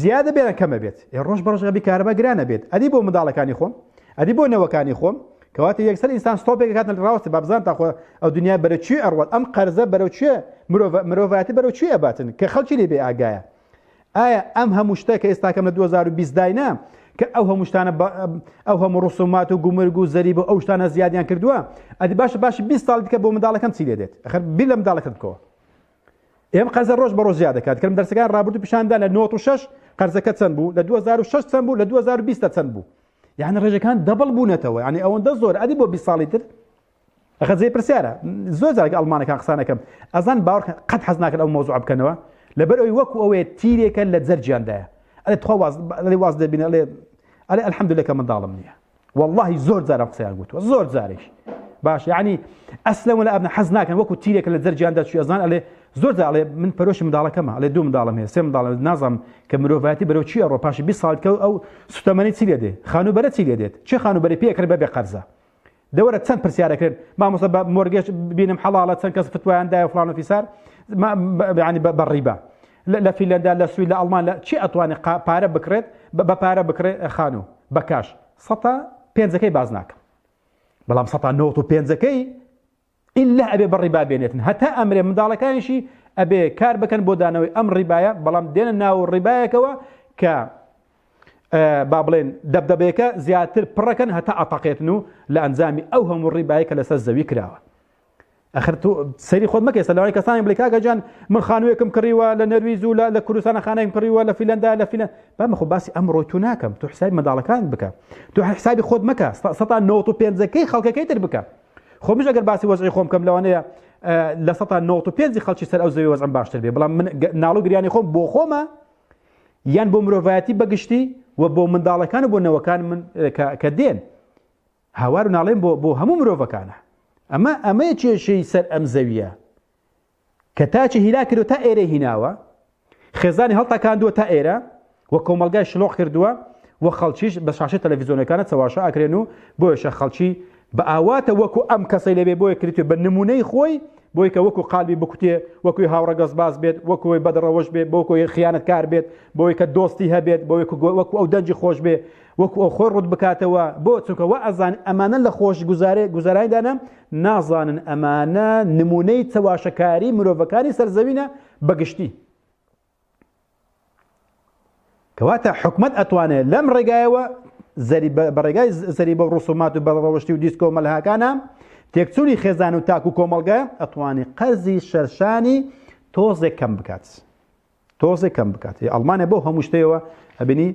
زیادە بێنە کەمە بێت ئێ ڕۆژ بەڕژەبی کارەبا گرانە بێت ئەدی بۆ منداڵەکانی خۆم ئەدی بۆ نەوەکانی خۆم کەواتە یەکسەر ئینسان ستۆپێک کات ڕاوەستی بابزان تاخۆ ئەو دنیا بەرە چی ئەڕوات ئەم قەرزە بەرەو چێ مرۆڤ مرۆڤایەتی بەرەو چی ئەباتن کە خەڵکی لێ بێ ئاگایە ئایا ئەم هەموو شتە کە ئێستاکەم لە 2020 داینە کە ئەو هەموو شتانە ئەو هەموو ڕسومات و گومرگ و زەریب و ئەو شتانە زیادیان کردووە ئەدی باش باش 20 ساڵ دیکە بۆ منداڵەکەم چی لێ دێت خەر بیر لە منداڵەکەت بکەوە ئێم قەرزە ڕۆژ بە ڕۆژ زیاد دەکات کەم دەرسەکان ڕابردوو پیشاندا لە 96 قەرزەکە چەند بوو لە 2006 چەند بوو لە 2020 چەند بوو یعنی ڕێژەکان دەبڵ بوونەتەوە ینی ئەوەندە زۆر ئەدی بۆ 20 ساڵی تر ئەخە جێ پرسیارە زۆر جارگە ئەڵمانەکان قسانەکەم ئەزان باوەڕ قەت حەز ناکەن ئەو مۆزوع بکەنەوە لەبەر ئەوی وەکو ئەوێ تیرێکە لە جەرجیاندایە ئەێ تخوا واز لێ واز دەبینە لێ ئەێ ئەلحەمدولەکە منداڵم نییە واللهی زۆر جارم قسەیان گوتوە زۆر جارێک باش یعنی ئەسلم ولا ئەبن حەز ناکەن وەکو تیرێکە لە جەرجیاندا چی ئەزان ئەلێ زۆر داڵێ من پەرۆشی منداڵەکەمە ئەلێ دوو منداڵم هەیە سێ منداڵ نازم کە مرۆڤایەتی بەرەو چی ئەڕۆ پاشی بی ساڵکە ئەو سوتەمەنی چی لێ دێ خانوبەرە چی لێ دێت چی خانوبەری پێکرد بەبێ قەرزە دەوەرە چەند پرسیارەکرێن مامۆستا بە مۆرگێش بینم حەڵاڵە چەند کەس فتوایان دایە فلان و فیسار ینی بە ڕیبە لە فیلەندا لە سوی لە ئەڵمان لە چی ئەتوانێت پارە بکرێت بە پارە بکرێ خانوو بە کاش سە پێنجەکەی باز ناکەم بەڵام سە نەوە و پێنجەکەی ئللە ئەبێ بە ڕیبا بێنێتن هەتا ئەمرێ منداڵەکانیشی ئەبێ کار بکەن بۆ دانەوەی ئەم ڕیبایە بەڵام دێنە ناو ڕیبایەکەوە کە با بڵێن دەبدەبێکە زیاتر پڕەکەن هەتا ئەتەقێتن و لە ئەنجامی ئەو هەموو ڕیبایە کە لەسەر زەوی کراوە ئەخر تو سەری خۆت مەکە سە لەوانی کەسانی بڵێ کاگەجان من خانوویەکم کڕیوە لە نەرویز و لە کوردستانە خانەیم کڕیوە لە فیلەندا لە فیلە بامەخۆ باسی ئەمڕۆی تو ناکەم تو حسابی منداڵەکان بکە تو حسابی خۆت مەکە سە 95ەکەی خەڵکەکەی تر بکە خۆ مش ئەگەر باسی وەزعی خۆم کەم لەوانەیە لە سە نۆ پێنجی خەڵکی سەر ئەو زەوی وەزم باشتر بێ بەڵام من ناڵو گریانی خۆم بۆ خۆمە یان بۆ مرۆڤایەتی بەگشتی و بۆ منداڵەکان و بۆ نەوەکان من کە دێن هاوار و ناڵێن بۆ بۆ هەموو مرۆڤەکانە ئەمە ئەمەیە کێشەی سەر ئەم زەویە کە تاچی هیلاک کردو تا ئێرەی هیناوە خێزانی هەڵتەکاندووە تا ئێرە و کۆمەلگای شلۆق کردووە و خەڵکیش بە شاشە تەلەڤیزیۆنەکانە چەواشە ئەکرێن و بۆیشە خەڵکی بە ئاواتە وەکو ئەم کەسەی لەبێ بۆیە کریتێ بە نمونەی خۆی بۆی کە وەکو قالبی بکوتێ وەکوی هاوڕەگەز باز بێت وەکوی بەدڕەوەش بێت بۆکۆی خیانەتکار بێت بۆی کە دۆستی هەبێت بۆ وەکو ئەو دەنجی خۆش بێ وەکو ئەو خۆی ڕوت بکاتەوە بۆ چونکە وا ئەزانێ ئەمانە لە خۆش گوزارێ گوزارایدانە نازانن ئەمانە نمونەی چەواشەکاری مرۆڤەکانی سەرزەوینە بەگشتی کەواتە حکومت ئەتوانێت لەم ڕێگایەوە زەری بەڕێگای زەری بە ڕسومات و بەڕەوەشتی و دیسکۆ مەلهاکانە تێکچووی خێزان و تاکو کۆمەلگە ئەتوانی قەرزی شەرشانی تۆزێک کەم بکات. تۆزێ کەم بکات هی ئەڵمانیا بۆ هەموو شتەوە ئەبینی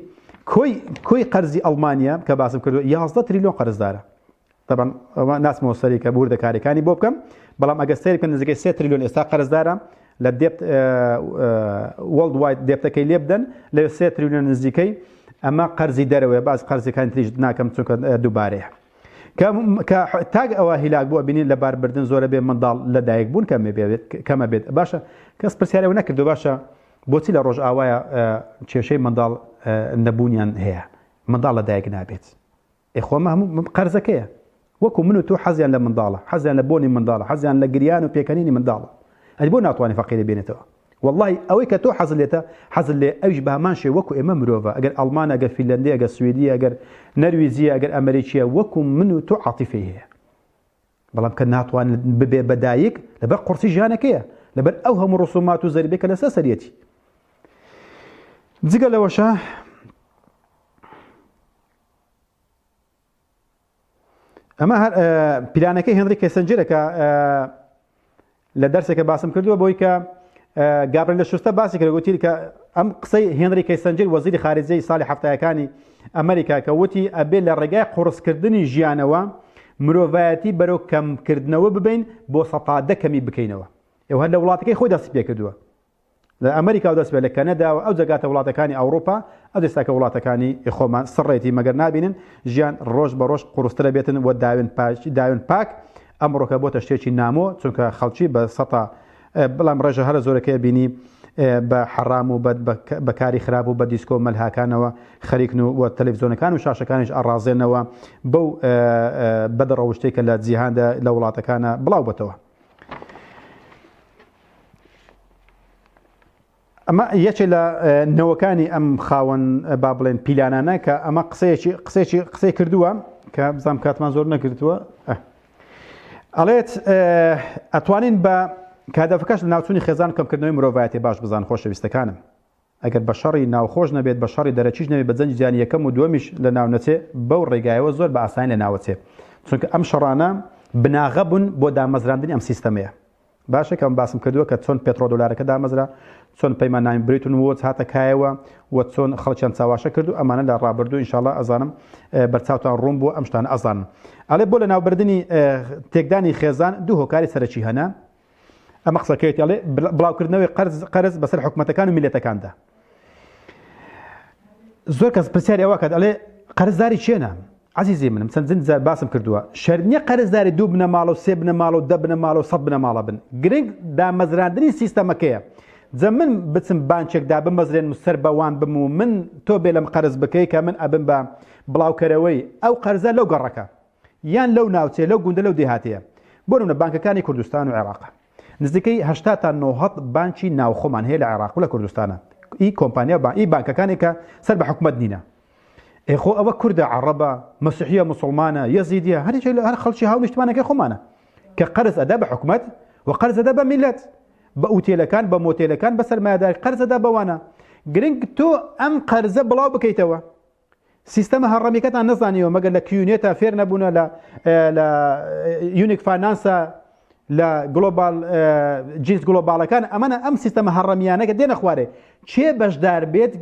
کۆی کۆی قەرزی ئەڵمانیا کە باسم کردو 11 تریلیۆن قەرزدارە طبعا ئەوە ناسمەوە سەری کە بوردە کارەکانی بۆ بکەم بەڵام ئەگە سەر بکەن نزیکەی سێ تریلیۆن ئێستا قەرزدارە لە دێت وەڵد وایت دێتەکەی لێ بدەن لە سێ تریلیۆن نزیکەی ئەمە قەرزی دەرەوەی باز قەرزەکان تریش ناکەم چونکە دووبارەیە کە کە تاک ئەوە هیلاک بووە بینین لە باربردن زۆرە بێ منداڵ لە دایک بوون کەمێ بێت کەمە بێت باشە کەس پرسیارەوە نەکردو باشە بۆچی لە ڕۆژ ئاوایە کێشەی منداڵ نەبوونیان هەیە منداڵ لە دایک نابێت ئێخۆمە هەموو قەرزەکەیە وەکو من و تۆ حەزیان لە منداڵە حەزیان لە بۆنی منداڵە حەزیان لە گریان و پێکەنینی منداڵە ئەی بۆ ناتوانانی فەقیری بێنێتەوە وەڵڵاهی ئەوەی کە تۆ حەزت لێتە حەزت لێ ئەویش بە هەمان شێ وەکو ئێمە مرۆڤە ئەگەر ئەڵمانە ئەگەر فیلەندی ئەگەر سویدی ئەگەر نەرویجیە ئەگەر ئەمریکیە وەکو من و تۆ عاتیفەی هەیە بەڵام کە ناتوان ببێ بە دایک لەبەر قورسی ژیانەکەیە لەبەر ئەو هەموو ڕسومات و زەربێکە لەسەر سەرەتی جگە لەوەشە ئەمە هەر پیلانەکەی هێنری کێسنجرە کە لە دەرسێکە باسم کردووە بۆی کە گابرل لە شوستە باسی کرد وتی کە ئەم قسەی هێنری کەیسەنجر وەزیری خارجەی ساڵی هەفتایەکانی ئەمریکا کە وتی ئەبێ لە ڕێگای قڕسکردنی ژیانەوە مرۆڤایەتی بەرەو کەمکردنەوە ببین بۆ سەتادە کەمی بکەینەوە ئێوە هەر لە وڵاتەکەی خۆی دەستی پێ کردووە لە ئەمەریکاو دەست بێت لە کەنەداوە ئەو جەگاتە وڵاتەکانی ئەوڕوپا ئەو ئێستا کە وڵاتەکانی خۆمان سڕێتی مەگەر نابینن ژیان ڕۆژ بە ڕۆژ قوڕسترە بێتن و داوێن پاک داوێن پاک ئەمڕۆکە بۆتە شتێکی نامۆ چونکە خەڵکی بە سەتا بەڵام ڕێژە هەرە زۆرەکەی بینی بە حەڕام و بەکاری خراپ و بە دیسکۆ مەلهاکانەوە خەریکن و وە تەلەڤزیۆنەکان و شاشەکانیش ئاڕازێنەوە بەو بەدڕەوشتێکە لە جیهاندا لە وڵاتەکانە بڵاو بەتەوە. ئەمە یەکێ لە نەوەکانی ئەم خاوەن با بڵێن پیلانانە کە ئەمە قسەیەکی قسێکی قسەی کردووە کە بزانام کاتمان زۆر نەکردووە ئەڵێت ئەتوانین بە کادەفەکەش لە ناوچونی خێزان کەمکردنەوەی مرۆڤایەتی باش بزان خۆشەویستەکانم ئەگەر بە شەڕی ناوخۆش نەبێت بە شەڕی دەرەکیش نەبێت بە جەنگی جیهانی یەکەم و دووەمیش لە ناو نەچێ بەو ڕێگایەوە زۆر بە ئاسانی لە ناوەچێ چونکە ئەم شەڕانە بناغە بوون بۆ دامەزراندنی ئەم سیستەمەیە باشە کە ئەم باسم کردووە کە چۆن پێتڕۆ دۆلارەکە دامەزرا چۆن پەیمان نامی بریتون وۆچ هاتە کایەوە و چۆن خەڵکیان چاواشە کرد و ئەمانە لە ڕابردوو انشاءاللە ئەزانم بەرچاوتان ڕوون بووە ئەم شتانە ئەزانن ئەڵێ بۆ لە ناوبردنی تێکدانی خێزان دوو هۆکاری سەرەکی هەنە ئەمە قسەکەێتی ئەڵێ بڵاوکردنەوەی قەرز قەرز بەسەر حکوومەتەکان و میلەتەکاندا زۆر کەس پرسیاری ئەوە کات ئەڵێ قەرزداری چێنە عزیزی منم چەند زند زار باسم کردووە شەرنیە قەرزداری دوو بنەماڵە و سێ بنەماڵە و دە بنەماڵە و سە بنەماڵە بن گرنگ دامەزراندنی سیستەمەکەیە جە من بچم بانچێکدا بمەزرێن سەر بەوان بم و من تۆ بێ لەم قەرز بکەی کە من ئەبم بە بڵاوکەرەوەی ئەو قەرزە لەو گەڕەکە یان لەو ناوچەیە لەو گوندە لەو دێهاتەیە بۆ نمونە بانکەکانی کوردستان و عێراق نزیکەی هەشتا تا نۆهەد بانکی ناوخۆمان هەیە لە عێراق و لە کوردستانە ئی کۆمپانیا با ئی بانکەکانی کە سەر بە حکومت نینە ئێ خۆ ئەوە کوردە عەڕەبە مەسیحیە مسلمانە یەزیدیە هەریکی لە هەر خەڵکی هاو نیشتمانەکەی خۆمانە کە قەرز ئەدا بە حکومت و قەرزەدا بە میلەت بە ئوتێلەکان بە مۆتێلەکان بە سەرمایەداری قەرزەدا بەوانە گرنگ تۆ ئەم قەرزە بڵاو بکەیتەوە سیستەمە هەڕەمیکەتان نەزانیەوە مەگەر لە کیونێتە فێر نەبوونە لە لە یونیک فانانسە لە گلۆبال جنس گلۆبالەکان ئەمەە ئەم سیستەمە هەڕەمیانەکە دێنە خوارێ چێ بەشدار بێت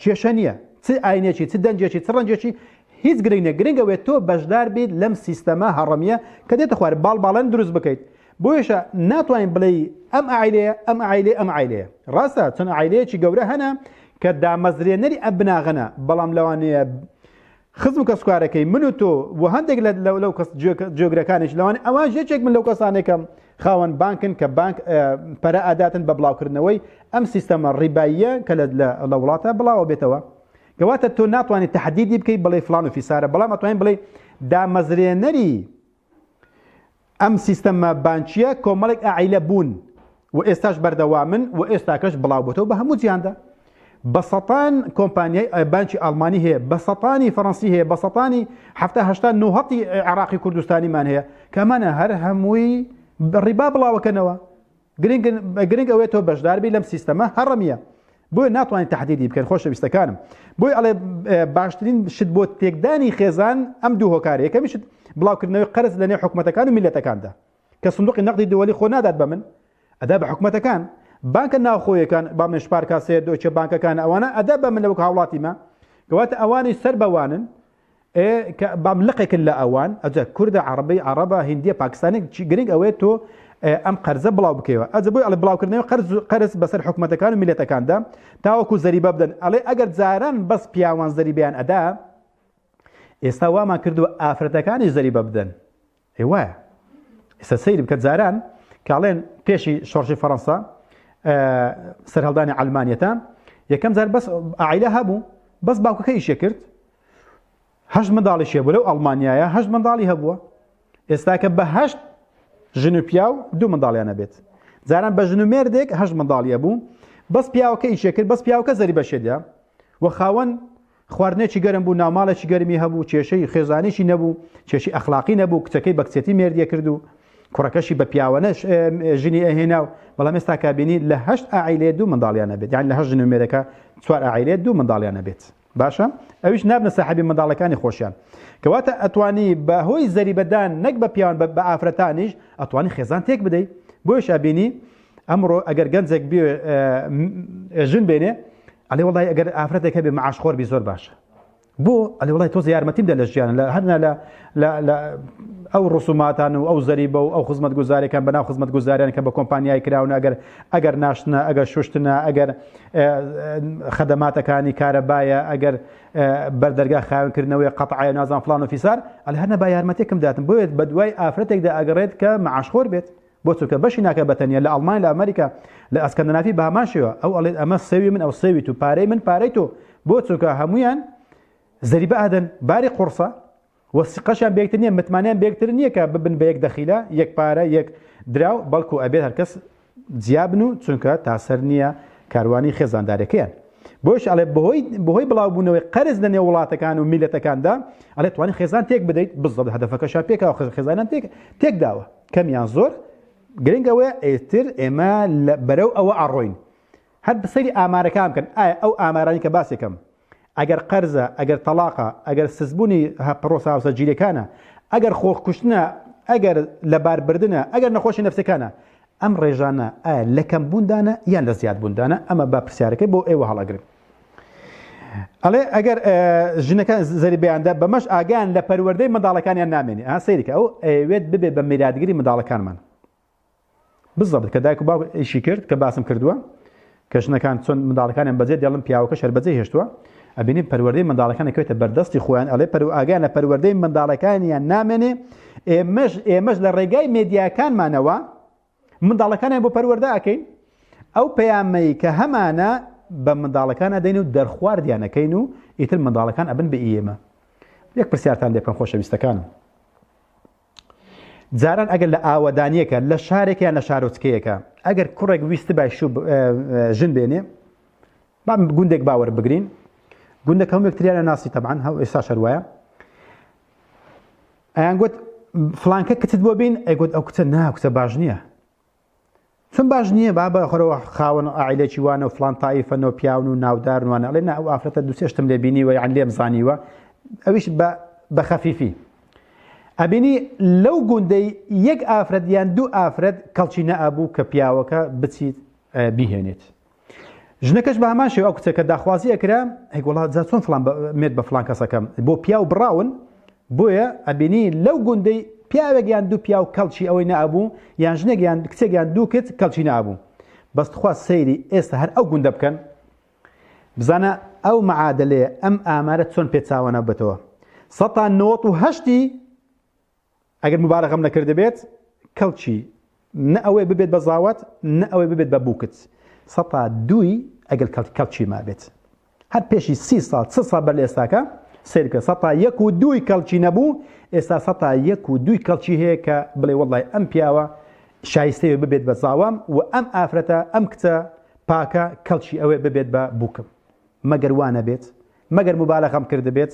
کێشە نییە چ ئاینێکی چ دەنجێکی چ ڕەنجێکی هیچ گرنگ نە گرنگەوێت تۆ بەشدار بیت لەم سیستەمە هەڕەمیە کە دێتە خوارێ باڵ باڵەن دروست بکەیت بۆیەشە ناتوانین بڵێی ئەم ئایلەیە ئەم ئایلێ ئەم ئایلەیە ڕاستە چەند ئایلەیەکی گەورە هەنە کە دامەزرێنەری ئەم بناغەنە بەڵام لەوانەیە خزم و کەسکارەکەی من و تۆ و هەندێک لە لەو کەس جێگرەکانش لەوان ئەوان یەکێک من لەو کەسانێکم خاوەن بانکن کە بانک پەرە ئاداتن بە بڵاوکردنەوەی ئەم سیستەمە ڕیباییە کە لە وڵاتە بڵاوە بێتەوە کەواتە تۆ ناتوانانی تهدیدی بکەیت بڵێ فلان و فیسارە بەڵام ئەتوانین بڵێ دامەزرێنەری ئەم سیستەمە بانکیە کۆمەڵێک ئاعیلە بوون و ئێستاش بەردەوامن و ئێستاکەش بڵاوبتەوە بە هەموو جیاندا بە سەتان کۆمپانیای بانکی ئالمانی هەیە بە سەتانی فەڕەنسی هەیە بە سەتانی هەفتا هەشتا نوهەتی عێراقی کوردستانیمان هەیە کەمانە هەر هەمووی ڕیبا بڵاوەکەنەوە گرنگ گرنگ ئەوێت تۆ بەشداربی لەم سیستەمە هەڕەمیە بۆیە ناتوانانی تهدیدی بکەن خۆشەویستەکانم بۆی ئەڵێ باشترین شت بۆ تێکدانی خێزان ئەم دوو هۆکارە یەکەمیشت بڵاوکردنەوەی قەرز لە نێو حکوومەتەکان و میلەتەکاندا کە سندوقی نەقدی دووەلی خۆ نادات بە من ئەدا بە حکوومەتەکان بانکە ناوخۆیەکان با من شپارکاسێ دۆچە بانکەکان ئەوانە ئەدا بە من لەوک هاوڵاتیمە گەواتە ئەوانی سەر بەوانن ئێ کە بام لقێکن لە ئەوان ئەجە کوردە عەڕەبی عەڕەبە هندیە پاکستانی چی گرنگ ئەوەیە تۆ ئەم قەرزە بڵاو بکەوە ئەجە بۆی ئەڵێ بڵاوکردنەوەی قەرز قەرز بەسەر حکومەتەکان و میلەتەکاندا تاوەکو زەریبە بدەن ئەڵێ ئەگەر جاران بەس پیاوان زەریبیان ئەدا ئێستا وامان کردووە ئافرەتەکانیش زەریبە بدەن ئەی وایە ئێستا سەیر بکە جاران کاڵێن پێشی شۆڕشی فەڕەنسا سەرهەڵدانی ئەلمانیەتە یەکەم جار بەس ئایلە هەبوو بەس باوکەکە ئیشێ کرد هەشت منداڵی شێ بوو لەو ئەڵمانیایە هەشت منداڵی هەبووە ئێستاکە بە هەشت ژن و پیاو دوو منداڵیانە بێت جاران بە ژن و مێردێک هەشت منداڵیە بوو بەس پیاوەکە ئیشێ کرد بەس پیاوکە زەری بەشێدە و خاوەن خواردنێکی گەرم بوو، ناوماڵێکی گەرمی هەبوو، کێشەی خێزانیی نەبوو، کێشەی ئەخلاقی نەبوو، کچەکەی بە کچێتی مێردی ئەکرد و کوڕەکەشی بە پیاوانە ژنی ئەهێنا و بەڵام ئێستا کابینی لە هەشت ئاعیلێ دوو منداڵیان نەبێت یان لە هەشت ژن و مێرەکە چوار ئاعیلێ دوو منداڵیان نەبێت باشە ئەویش نابنە ساحبی منداڵەکانی خۆشیان کەواتە ئەتوانی بە هۆی زەریبەدان نەک بە پیاوان بە ئافرەتانیش ئەتوانی خێزان تێک بدەیت بۆیشا بینی ئەمڕۆ ئەگەر گەنجێک ژن بێنێ ئەلێ وڵی ئەگەر ئافرەتێک هەبێ معاش خۆر بی زۆر باشە بۆ ئەلێ وڵی تۆز یارمەتیم دە لە ژیان لە هەرنا لە ئەو ڕسوماتان و ئەو زەری بە و ئەو خزمەت گوزارەکان بەنا خزمەت گوزاریان کە بە کۆمپانیای کراون ئەگەر ئەگەر ناشتنە ئەگەر شوشتنە ئەگەر خەدەماتەکانی کارەبایە ئەگەر بەردەرگا خاونکردنەوەی قەتعای نازان فلان و فیسار ئەل هەرە با یارمەتێکم داتم بۆێت بە دوای ئافرەتێکدا ئەگەڕێت کە معاشخۆر بێت بۆ چونکە بەشی ناکە بەتەنیا لە ئەڵمانیا لە ئەمریکا لە ئەسکەندنافی بەهەمان شێوە ئەو ئەڵێت ئەمە سێوی من ئەو سێوی تو پارەی من پارەی تۆ بۆ چونکە هەمویان زەریبە ئەدەن باری قورسە و سقەشیان بێکتر نییە متمانیان بێکتر نییە کە ببن بە یەک دەخیلە یەک پارە یەک دراو بەڵکو ئەبێت هەرکەس جیابن و چونکە تاسەر نییە کاروانی خێزاندارەکەیان بۆش ئەڵێ بەهۆی بەهۆی بڵاوبوونەوەی قەرز لە نێو وڵاتەکان و میلەتەکاندا ئەلێ توانی خێزان تێک بدەیت بزڵ هەدەفەکەشا پێکەوە خێزانان تێک تێک داوە کەم یان زۆر گرنگ ئەوەیە ئێتر ئێمە بەرەو ئەوە ئەڕۆین هەر بسەری ئامارەکان بکەن ئایا ئەو ئامارانی کە باسێکم ئەگەر قەرزە ئەگەر تەلاقە ئەگەر سزبوونی پڕۆسە هاوسە جیرەکانە ئەگەر خۆخکوشتنە ئەگەر لەباربردنە ئەگەر نەخۆشی نفسەکانە ئەم ڕێژانە لەکەم بووندانە یان لە زیاد بووندانە ئەمە بە پرسیارەکەی بۆ ئێوە هەڵەگرن ئەڵێ ئەگەر ژنەکە زەریبیاندا بەمەش ئاگیان لە پەروەردەی منداڵەکانیان نامێنێ ئا سەیرکە ئەو ئەوێت ببێ بە میراتگری منداڵەکانمان بزەبت کە دایک و باو ئیشی کرد کە باسم کردووە کە ژنەکان چۆن منداڵەکانیان بەجێ دێڵم پیاوەکە شەربەجێ هێشتووە ئەبینی پەروەردەی منداڵەکانە کوێتە بەردەستی خۆیان ئەڵێ پەرو ئاگیان لە پەروەردەی منداڵەکانیان نامێنێ ئێمەش ئێمەش لە ڕێگای مێدیاکانمانەوە منداڵەکانیان بۆ پەروەردە ئەکەین ئەو پەیامەی کە هەمانە بە منداڵەکان ئەدەین و دەرخواردیانەکەین و ئیتر منداڵەکان ئەبن بە ئێمە یەک پرسیارتان لێ بکەم خۆشەویستەکانم جاران ئەگەر لە ئاوەدانیەکە لە شارێکیان لە شارۆچکەیەەکە ئەگەر کوڕێک ویست بای ژن بێنێ بام گوندێک باوەر بگرین گوندەکە هەمێکتریانە ناسی تەبان هەو ئێستا شەروایە ئەیان گوت فلانکە کچت بۆ بین ئەیگوت ئەو کچە نا کچە باش نییە چون باش نییە با بە خۆرەوە خاوەن ئایلێکی وانە و فلان تایفەن و پیاون و ناودار وانە ئەڵێ نا ئەو ئافرەتە دوسێشتم لێ بینیوە یان لێم زانیوە ئەویش بە خەفیفی ئەبینی لەو گوندەی یەک ئافرەت یان دوو ئافرەت کەڵچی نەئابوو کە پیاوەکە بچیت بیهێنێت ژنەکەش بە هەمان شێوە ئەو کچە کە داخوازی ئەکرا هەی وڵات جا چۆن فلان مێت بە فلان کەسەکەم بۆ پیاو بڕاون بۆیە ئەبینی لەو گوندەی پیاوێک یان دوو پیاو کەڵکی ئەوەی نابوو یان ژنێک یان کچێک یان دوو کچ کەڵکی نابوو بەس تخوا سەیری ئێستا هەر ئەو گوندە بکەن بزانە ئەو معادلەیە ئەم ئامارە چۆن پێچاوانە بێتەوە سەتان نۆت و هەشتی ئەگەر موبارەغەم نەکردبێت کەڵکی نە ئەوەی ببێت بە زاوات نە ئەوەی ببێت بە بووکت سەتا دووی ئەگەر کەڵک کەڵکی مابێت هەر پێشی سی ساڵ چ ساڵ بەر لە ئێستاکە سێرکە سەتا یەک و دووی کەڵکی نەبوو ئێستا سەتا یەک و دووی کەڵکی هەیە کە بڵێ وڵی ئەم پیاوە شایستەیە ببێت بە زاوام و ئەم ئافرەتە ئەم کچە پاکە کەڵکی ئەوێ ببێت بە بووکم مەگەر وانە بێت مەگەر مبالەغەم کردبێت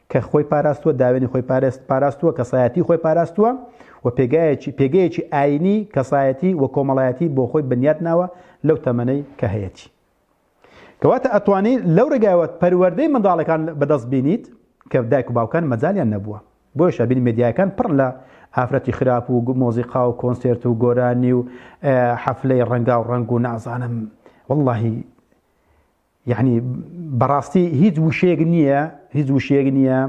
کە خۆی پاراستووە، داوێنی خۆی پاراستووە، کەسایەتی خۆی پاراستووە و پێگایەکی پێگەیەکی ئایینی، کەسایەتی و کۆمەڵایەتی بۆ خۆی بنیات ناوە لەو تەمەنەی کە هەیەتی. کەواتە ئەتوانی لەو ڕێگایەوە پەروەردەی منداڵەکان بەدەست بینیت کە دایک و باوکان مەجالیان نەبووە. بۆیە شابین مێدیایەکان پڕن لە ئافرەتی خراپ و مۆزیقا و کۆنسێرت و گۆرانی و حەفلەی ڕەنگاو ڕەنگ و نازانم واللهی یەعنی بەڕاستی هیچ وشەیەک نییە هیچ وشەیەک نییە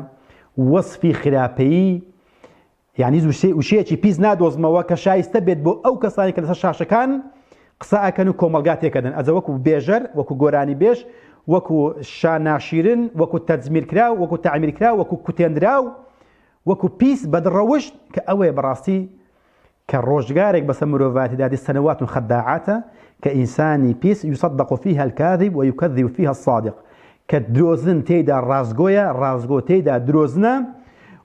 وەسفی خراپەیی یعنی وشەیەکی پیس نادۆزمەوە کە شایستە بێت بۆ ئەو کەسانی کە لەسەر شاشەکان قسە ئەکەن و کۆمەلگا تێکەدەن ئەزە وەکو بێژەر وەکو گۆرانی بێژ وەکو شاناشیرن وەکو تەجمیرکرا وەکو تعمیرکرا وەکو کوتێنرا و وەکو پیس بەدڕەوشت کە ئەوەیە بەڕاستی کە ڕۆژگارێک بەسەر مرۆڤایەتیدا دێت سەنەوات خەداعاتە کە ئینسانی پیس یصدق فیها الکاذب ویکذب فیها الصادق کە درۆزن تێیدا ڕاستگۆیە ڕاستگۆ تێیدا درۆزنە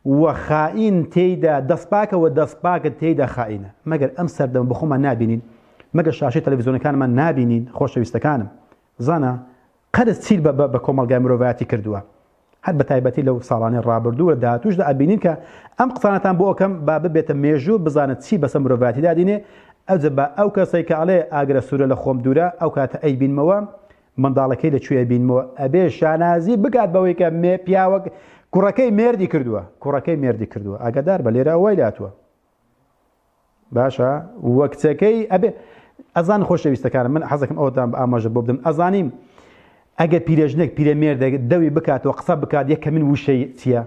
و خائین تێیدا دەستپاکە و دەستپاکە تێیدا خائینە مەگەر ئەم سەردەم بخۆمان نابینین مەگە شاشی تەلەڤزیۆنەکانمان نابینین خۆشەویستەکانم زانە قەرز چیل بە بە کۆمەلگای مرۆڤایەتی کردووە هەر بە تایبەتی لەو ساڵانەی ڕابردوو لە داهاتووشدا ئەبینین کە ئەم قسانەتان بۆ ئەکەم با ببێتە مێژوو بزانە چی بەسە مرۆڤاتی دادینێ ئەوجە بە ئەو کەسێک کە ئەڵێ ئاگرە سوورە لە خۆم دوورە ئەو کاتە ئەی بینمەوە منداڵەکەی لە کوێ بینمەوە ئەبێ شانازی بگات بەوەی کە مێ پیاوەک کوڕەکەی مێردی کردووە کوڕەکەی مێردی کردووە ئاگادار بە لێرە وای لاتوە باشە وە کچەکەی ئەبێ ئەزان خۆشەویستەکانم من حەزەکەم ئەوتان بە ئاماژە بۆ بدەم ئەزانیم ئەگەر پیرێژنێک پیرەمێر دەوی بکاتەوە قسە بکات یەکە من وشەی چییە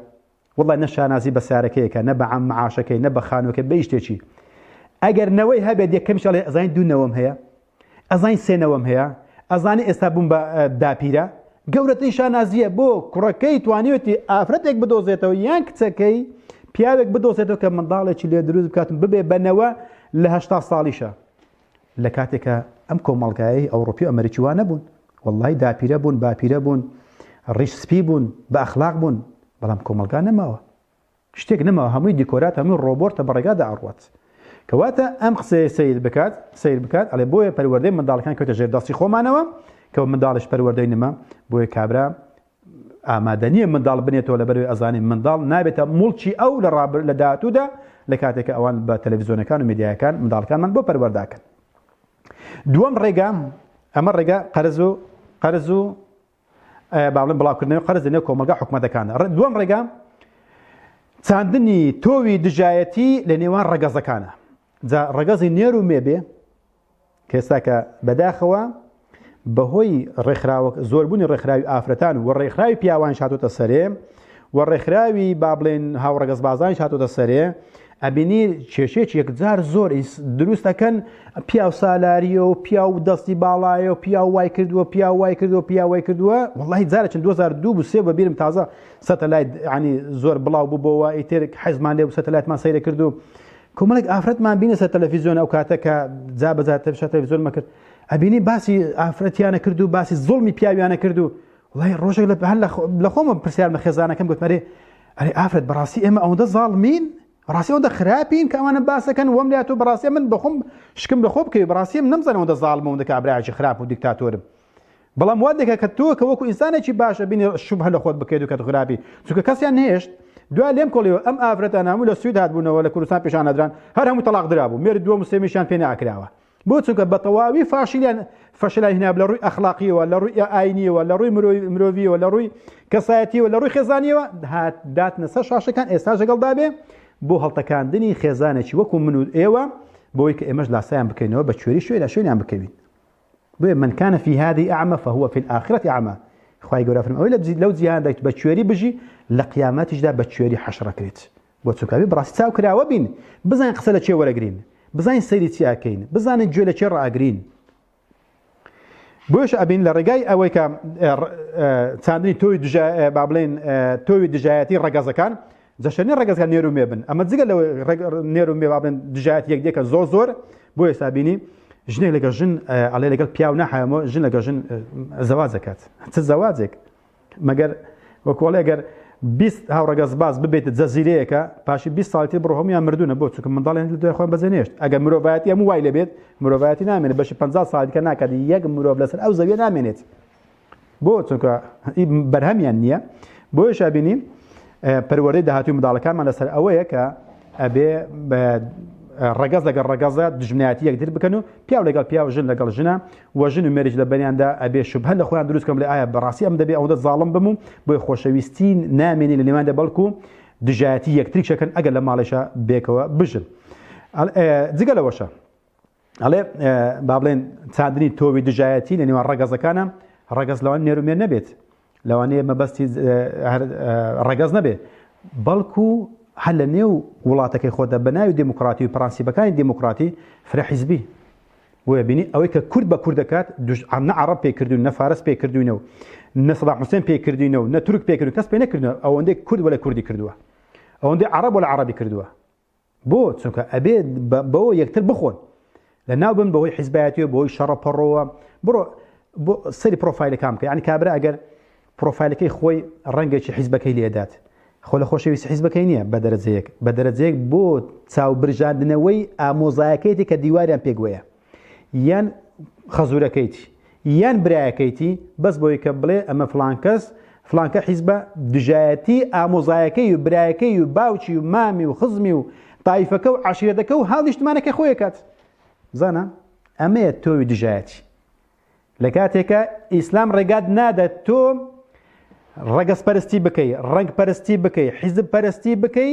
وڵای نە شانازی بە سارەکەیەکە نە بە عام معاشەکەی نە بە خانوەکە بە شتێکی ئەگەر نەوەی هەبێت یەکەم شڵێ ئەزانین دوونەوەم هەیە ئەزانی سێ نەوەم هەیە ئەزانی ئێستا بووم بە داپیرە گەورەترین شانازیە بۆ کوڕەکەی توانیوتی ئافرەتێک بدۆزێتەوە یان کچەکەی پیاوێک بدۆزێتەوە کە منداڵێکی لێ دروست بکاتم ببێ بەنەوە لە هشتا ساڵیشە لە کاتێکە ئەم کۆمەڵگایەی ئەوروپی ئەمریکی وانە بوون واللهی داپیرە بوون باپیرە بوون ڕیش سپی بوون بە ئەخلاق بوون بەڵام کۆمەلگا نەماوە شتێک نەماوە هەمووی دیکۆرات هەمووی ڕۆبۆرتە بەڕێگادا ئەڕوات کەواتە ئەم قسەیە سەیر بکات سەیر بکات ئەڵێ بۆیە پەروەردەی منداڵەکان کەوتە ژێر دەستی خۆمانەوە کەەوە منداڵش پەروەردەی نمە بۆیە کابرا ئامادەنیە منداڵ بنێتەوە لە بەروی ئەزانانی منداڵ نابێتە مڵکی ئەو لە ڕابر لە داهاتوودا لە کاتێکە ئەوان بە تەلەڤزیۆنەکان و میدیایەکان منداڵکانمان بۆ پەروەرداکەن دووەم ڕێگام ئەمە ڕێگا قەرز و قەرز و با بڵێن بڵاوکردنەوەی قەرز لەنێو کۆمەڵگا حکومەتەکاندا دووەم ڕێگا چاندنی تۆوی دژایەتی لە نێوان ڕەگەزەکانە جا ڕەگەزی نێر و مێ بێ کەێستاکە بەداخەوە بەهۆی ڕێکخراوە زۆربوونی ڕێکخراوی ئافرەتان و ڕێکخراوی پیاوان شاتۆتە سەرێ و ڕێکخراوی با بڵێن هاوڕەگەز بازان شاتۆتە سەرێ ئەبینی کێشێک یەکجار زۆر دروستەکەن پیاو سالاریە و پیا و دەستی باڵایە و پیا وای کردووە پیا وای کردووە پیا وای کردووە وڵی جارە چند 2002 بوسێ بە بیرم تازە سەتەلایت ینی زۆر بڵاو بووبەوە ئیتر حەزمان لێ سەتەلاتمان سەیرە کردو کۆمەڵێک ئافرەتمان بینە سەر تەلەفیزیۆن ئەو کاتە کە جا بەزار تەشە تەلەفیزۆنمە کرد ئەبینی باسی ئافرەتیانە کرد و باسی زۆڵمی پیاویانە کرد و وڵی ڕۆژێک لە هەر لە خۆمە پرسیارمە خێزانەکەم گوتمەێ ئەرێ ئافرەت بەڕاستی ئێمە ئەوەندە زاڵمین بەڕاستی ئەوەندە خراپین کە ئەوانە باسەکەن وەم لات و بەڕاستی من بەخۆم شکم لە خۆ بکەوی بەڕاستی من نەمزانەوە دە زاڵم ئەوەندە کابراایکی خراپ و دیکتاتۆرم بەڵام وا دەکە کە تۆ کە وەکو ئینسانێکی باشە بینی شوب هە لە خۆت بکەیت و کە خراپی چونکە کەسیان نهێشت دوا لێم کۆڵیەوە ئەم ئافرەتان هەموو لە سوید هاتبوونەوە لە کوردستان پیشانەدران هەر هەموو تەلاق درابوو مێر دووە مسلمیشان پێ ناکراوە بۆ چونکە بەتەواوی فاشلیان فەشلای هناب لە ڕووی ئەخلاقیەوە لە ڕووی ئاینیەوە لە ڕووی مرۆڤیەوە لە ڕووی کەسایەتیەوە لە ڕووی خێزانیەوە هات داتنە سەر شاشەکان ئێستا ژەگەڵدابێ بۆ هەڵتەکاندنی خێزانێکی وەکو من و ئێوە بۆی کە ئێمەش لاسایان بکەینەوە بە کوێری شوێنە شوێنیان بکەوین بۆیە من کانە فی هذه ئەعمە فهو فی الآخرة ئەعمە خی گەورە فرم ئەوەی لەو جیهان دەیت بە کوێری بژی لە قیامەتیشدا بە کوێری حەشڕەکرێت بۆ چونکە ئەبێ بەڕاستی چاو کراوە بین بزانین قسە لە کێ وەرەگرین بزانین سەیری چی ئەکەین بزانین گوێ لە کێ ڕاگرین بۆش ئەبین لە ڕێگای ئەوەی کە چاندنی تۆی با بڵێن تۆوی دژایەتی ڕگەزەکان جەشەنی ڕگەزگە نێرو مێ بن ئەمە جگە لە نێرو مێ بابن دژایەت یەک دێکە زۆر زۆر بۆ ئێستا بینی ژنێک لەگە ژن ئەڵێ لەگەڵ پیاو نەحەمەوە ژن لەگە ژن زەواز دەکات چ زەواجێک مەگەر وەکو ئەڵێ گەر بیست هاوڕەگەزباز ببێتە جەزیرەیەکە پاشی بیست ساڵی تر بڕۆ هەموویان مردوونە بۆ چونکە منداڵیان لە دوای خۆیان بەجێنێشت ئەگەر مرۆڤایەتی هەموو وای لەبێت مرۆڤایەتی نامێنێت بەشی پ ساڵ دیکە ناکات یەک مرۆڤ لەسەر ئەو زەویە نامێنێت بۆ چونکە ئی بەرهەمیان نییە بۆیە شابینی پەروەردەی داهاتوی منداڵەکانمان لەسەر ئەوەیە کە ئەبێ ڕگەز لەگەڵ ڕگەزە دژمنایەتی یەکتر بکەن و پیاو لەگەڵ پیاو ژن لەگەڵ ژنە وە ژن و مێردیش لە بەنیاندا ئەبێ شوبهە لە خۆیان دروست کەن بڵێ ئایا بەڕاستی ئەم دەبێ ئەوەندە زاڵم بم و بۆی خۆشەویستی نامێنێ لە نێواندا بەڵکو دژایەتی یەکتریش ئەکەن ئەگەر لە ماڵێشا بێکەوە بژن جگە لەوەشە ئەڵێ با بڵێن چاندنی تۆوی دژایەتی لە نێوان ڕەگەزەکانە ڕەگەز لەوان نێرومێر نەبێت لەوانەیە مەبەستی ڕەگەز نەبێ بەڵکو هەر لە نێو وڵاتەکەی خۆدا بە ناوی دموکراتی و پرانسیبەکانی دموکراتی فرە حیزبی بۆیە بینی ئەوەی کە کورد بە کورد دەکات نە عرب پێ کردوون نە فارس پێ کردوینە و نە سەدا حوسێن پێ کردینە و نە تورک پێ کردو کەس پێ نەکردن ئەوەندەی کورد وەلە کوردی کردووە ئەوەندەی عرب وەلە عربی کردووە بۆ چونکە ئەبێ بەوە یەکتر بخۆن لە ناو بن بەهۆی حیزبایەتیەوە بۆی شەڕە پەڕەوە بڕۆ سەری پرۆفایلەکان بکە ینی کابرا ئەگەر پرۆفایلەکەی خۆی ڕەنگێکی حیزبەکەی لێدات خۆ لە خۆشەویست حیزبەکەی نییە بە دەرەجەیەک بە دەرەجەیەک بۆ چاو برژاندنەوەی ئامۆزایەکەیتی کە دیواریان پێگوەیە یان خەزورەکەیتی یان برایەکەیتی بەس بۆی کە بڵێ ئەمە فلانکەس فلانکە حیزبە دژایەتی ئامۆزایەکەی و برایەکەی و باوکی و مامی و خزمی و تایفەکە و عشیرەتەکە و هاو نیشتمانەکە خۆی کات زانە ئەمەیە تۆوی دژایەتی لە کاتێکە ئیسلام ڕێگات نادەت تۆ ڕەگەز پەرستی بکەی ڕنگ پەرستی بکەی حیزب پەرستی بکەی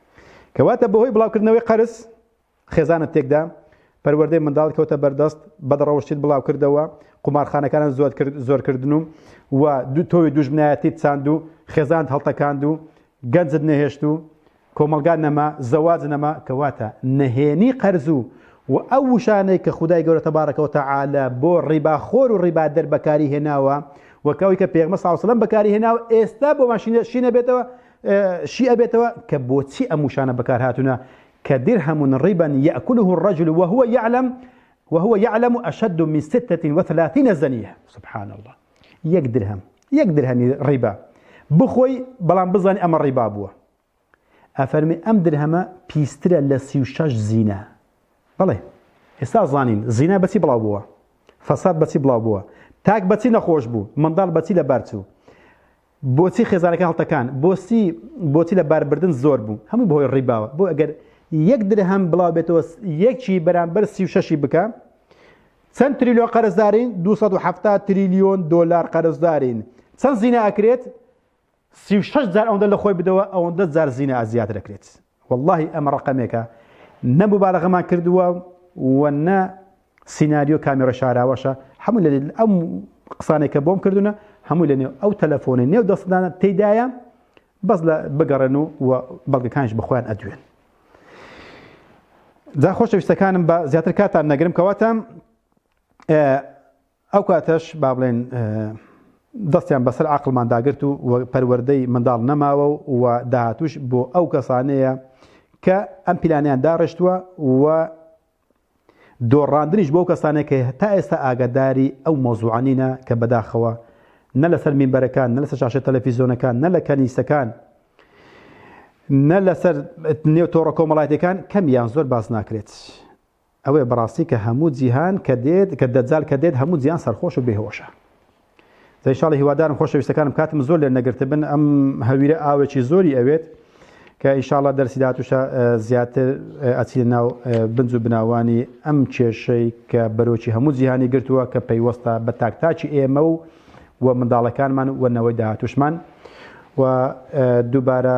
کەواتە بەهۆی بڵاوکردنەوەی قەرز خێزانە تێکدا پەروەردەی منداڵ کەوتە بەردەست بەدڕەوشتیت بڵاو کردەوە قومارخانەکانان زۆر کرد زۆرکردن و و دوو تۆوی دوژمنایەتیت چاند و خێزانت هەڵتەکاند و گەنجت نەهێشت و کۆمەلگا نەما زەواج نەما کەواتە نەهێنی قەرز و و ئەو وشانەی کە خدای گەورە تەبارەکەەوە تەعاالە بۆ ڕیباخۆر و ڕیبا دەر بەکاری هێناوە وەکەوەی کە پێغمە ساوسلم بەکاری هێناوە ئێستا بۆ ماشینە شینە بێتەوە شی ئەبێتەوە کە بۆچی ئەم وشانە بەکارهاتونە کە درهم ربا يأكله الرجل وهو يعلم وهو يعلم أشد من 36 زنية سبحان الله یەک درهم یەک درهمی ڕیبا بخۆی بەڵام بزانانی ئەمە ڕیبا بووە ئەفەرمی ئەم درهەمە پیسترە لە سی و شش زیینە بڵێ ئێستا زانین زینا بەچی بڵاو بووە فەساد بەچی بڵاو بووە تاک بەچی نەخۆش بوو منداڵ بەچی لە بەرچوو بۆچی خێزانەکە هەڵتەکان بۆچی بۆچی لە باربردن زۆر بوو هەموو بەهۆی ڕیباوە بۆ ئەگەر یەک درهەم بڵاو بێتەوە یەکی بەرامبەر سی و شەشی بکە چەند تریلیۆن قەرزدارین 270 تریلیۆن دلار قەرزدارین چەند زینا ئەکرێت 36 جار ئەوەندە لە خۆی بدەوە ئەوەندە جار زینا زیاتر دەکرێت وەڵاهی ئەمە ڕەقەمێکە نە موبالەغەمان کردووە و نە سیناریۆ کامێرە شاراوەشە هەموو لە ئەم قسانێک کە بۆم کردوونە هەموو لە نێو ئەو تەلەفۆنی نێو دەستدانە تێدایە بەس لە بگەڕێن و بەڵگەکانش بەخۆیان ئەدوێن جا خۆشەویستەکانم بە زیاتر کاتان نەگرم کەواتە ئەو کاتەش با بڵێین دەستیان بەسەر عەقڵمان داگرت و پەروەردەی منداڵ نەماوە و داهاتوش بۆ ئەو کەسانەیە کە ئەم پیلانیان داڕشتووە و دۆڕاندنیش بۆ کەسانێک کە تا ئێستا ئاگاداری ئەو مۆزوعانینە کە بەداخەوە نە لەسەر مینبەرەکان نە لەسەر شاشە تەلەفیزۆنەکان نە لە کەنیسەکان نە لەسەر نێو تۆڕە کۆمەڵاتەکان کەم یان زۆر باس ناکرێت ئەوەیە بەڕاستی کە هەموو جیهان کە دێت کە دەجال کە دێت هەموو جیان سەرخۆش و بێهۆشە زە انشاءاللە هیوادارم خۆشەویستەکانم کاتم زۆر لێ نەگرتبن ئەم هەویرە ئاوێکی زۆری ئەوێت کە ئیشاڵە دەرسی دااتوشە زیاتر ئەچی ناو بنج و بناوانی ئەم کێشەی کە بەرۆکی هەموو جیهانی گرتووە کە پەیوەستە بە تاکتاکی ئێمە و و منداڵەکانمان و نەوەی داهاتوشمان و دووبارە